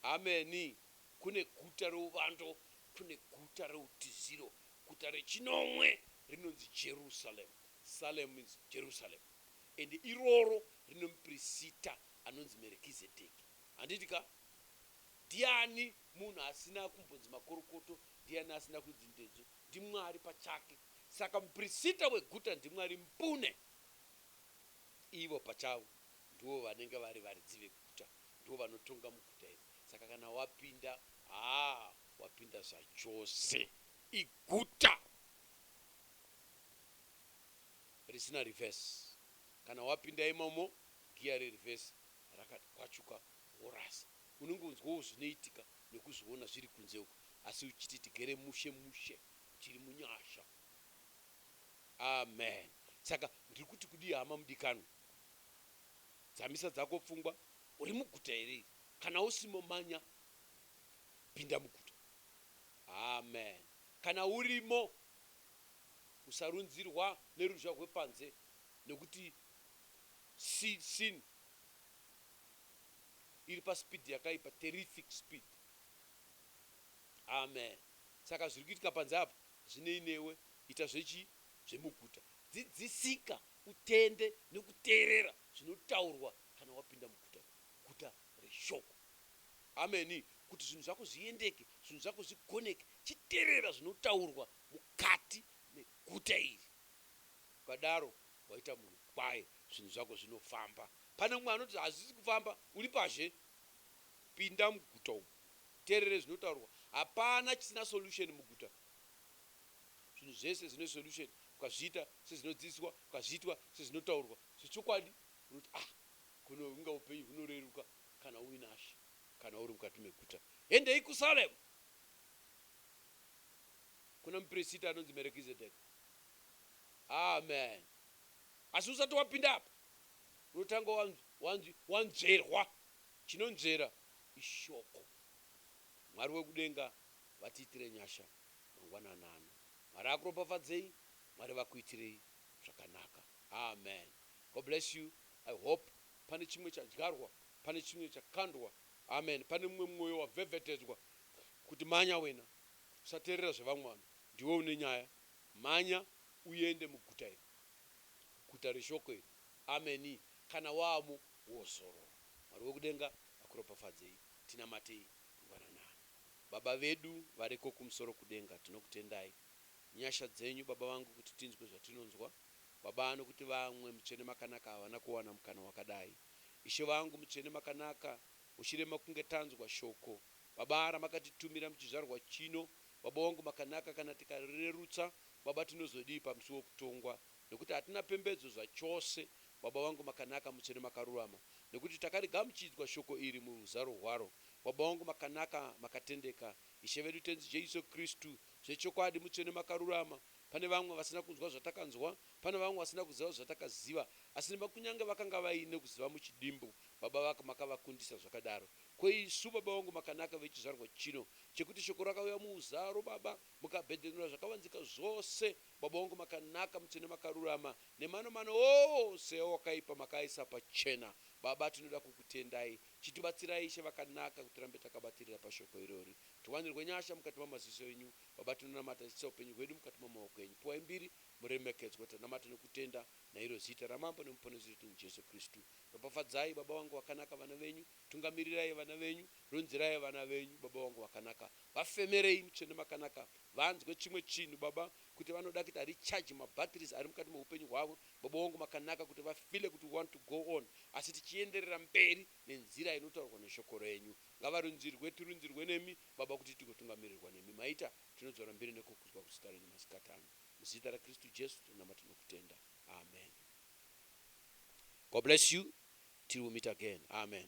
ameni kune guta reuvando kune guta reutiziro Guta rechinomwe rinonzi Jerusalem, Salem means Jerusalem, and iroro rine muprisita anonzi Merkizedeki. Handiti ka? Ndiani munhu asina kumbonzi makorokoto, ndiani asina kunzi ndedzvo? NdiMwari pachake. Saka muprisita weguta ndiMwari mbune. Ivo pachavo ndivo vanenge vari varidzi veguta, ndivo vanotonga muguta iri. Saka kana wapinda, haa, Wapinda zvachose iguta risina reverse kana wapinda imomo gear re reverse rakati kwachuka worasa unenge unzwawo zvinoitika nekuzviona zviri kunze uko asi uchiti tigere mushe mushe tiri munyasha amen saka ndiri kuti kudii hama mudikanwa dzamisa dzako pfungwa uri muguta here iri kana usimo manya kupinda muguta. Amen. Kana urimo, usarunzirwa neruzha rwepanze nekuti si, sin iri paspeed yakaipa, terrific speed. Amen. Saka zviri kuitika panze apa hazvinei newe, ita zvechi, zvemuguta. Dzidzisika, utende nekuteerera zvinotaurwa kana wapinda muguta, guta reshoko. Amen kuti zvinhu zvako zviendeke zvinhu zvako zvigoneke chiterera zvinotaurwa mukati meguta iri ukadaro waita munhu kwaye zvinhu zvako zvinofamba pane umwe anoti hazvisi kufamba uri pazhe pinda muguta umu terere zvinotaurwa hapana chisina solution muguta zvinhu zvese zvine solution ukazviita sezvinodzidziswa ukazviitwa sezvinotaurwa zvechokwadi unoti ah kuno inga upenyu hunoreruka Kana uinashe, kana uri mukati meguta, endei kuSalemu, kuna muprisita anonzi Merekizedheki. Amen. Asi usati wapinda apa, unotanga wanzi, wanzverwa. Chinonzvera iShoko. Mwari wekudenga vatiitire nyasha mangwanani ano. Mwari akuropafadzei. Mwari vakuitirei zvakanaka. Amen. God bless you. I hope Pane chimwe chadyarwa, pane chimwe chakandwa. Amen. Pane mumwe mwoyo wavhevhetedzwa kuti manya wena, usateerera zvevamwe vanhu, ndiwe une nyaya, mhanya uende muguta iri, guta reshoko iri. Amenii. Kana waamo, wozorora. Mwari wekudenga akuropafadzei. Tinamatei ngwananani. Baba vedu variko kumusoro kudenga, tinokutendai nyasha dzenyu, Baba vangu, kuti tinzwe zvatinonzwa. Baba nokuti vamwe Mutsvene Makanaka havana kuwana mukana wakadai. Ishe vangu Mutsvene Makanaka uchirema kunge tanzwa shoko Baba ramakatitumira muchizvarwa chino Baba wangu Makanaka kana tikarirerutsa Baba tinozodii pamusi wekutongwa nokuti hatina pembedzo zvachose Baba vangu Makanaka Mutsvene Makarurama nokuti takarigamuchidzwa shoko iri muruzaro rwaro Baba wangu Makanaka Makatendeka Ishe vedu Tenzi Jesu Kristu zvechokwadi Mutsvene Makarurama Pane vamwe vasina kunzwa zvatakanzwa, pana vamwe vasina kuziva zvatakaziva, asi nema kunyange vakanga vaine kuziva muchidimbu, Baba vaka makavakundisa zvakadaro. Ko isu, Baba vangu makanaka vechizvarwa chino, chekuti Shoko rakauya muuzaro, Baba, mukabhedhenura zvakavanzika zvose, Baba wangu makanaka, mutsvene makarurama, nemanomano ose awakaipa makaaisa pachena. Baba, tinoda kukutendai. Chitibatsirai, Ishe vakanaka, kuti tirambe takabatirira paShoko irori. Tiwanirwe nyasha mukati mamaziso enyu, Baba tinonamata tichisa upenyu hwedu mukati mamaoko enyu piwai mbiri muremekedzwa tanamata nekutenda nairo zita ramambo nemuponesi wedu Jesu Kristu ropafadzai baba vangu vakanaka vana venyu tungamirirai vana venyu ronzerai vana venyu baba vangu vakanaka vafemerei mutsvene makanaka vanzwe chimwe chinhu baba kuti vanoda kuti hari charge ma batteries ari mukati mehupenyu hwavo baba wangu makanaka kuti vafile kuti we want to go on asi tichienderera mberi nenzira inotaurwa neshoko renyu Ngavarunzirwe tirunzirwe nemi Baba kuti tigotungamirirwa nemi Maita tinodzora mbiri nekukudzwa kuzita renyu masikati ano Muzita raKristu Jesu tinonamata nokutenda Amen God bless you till we meet again Amen.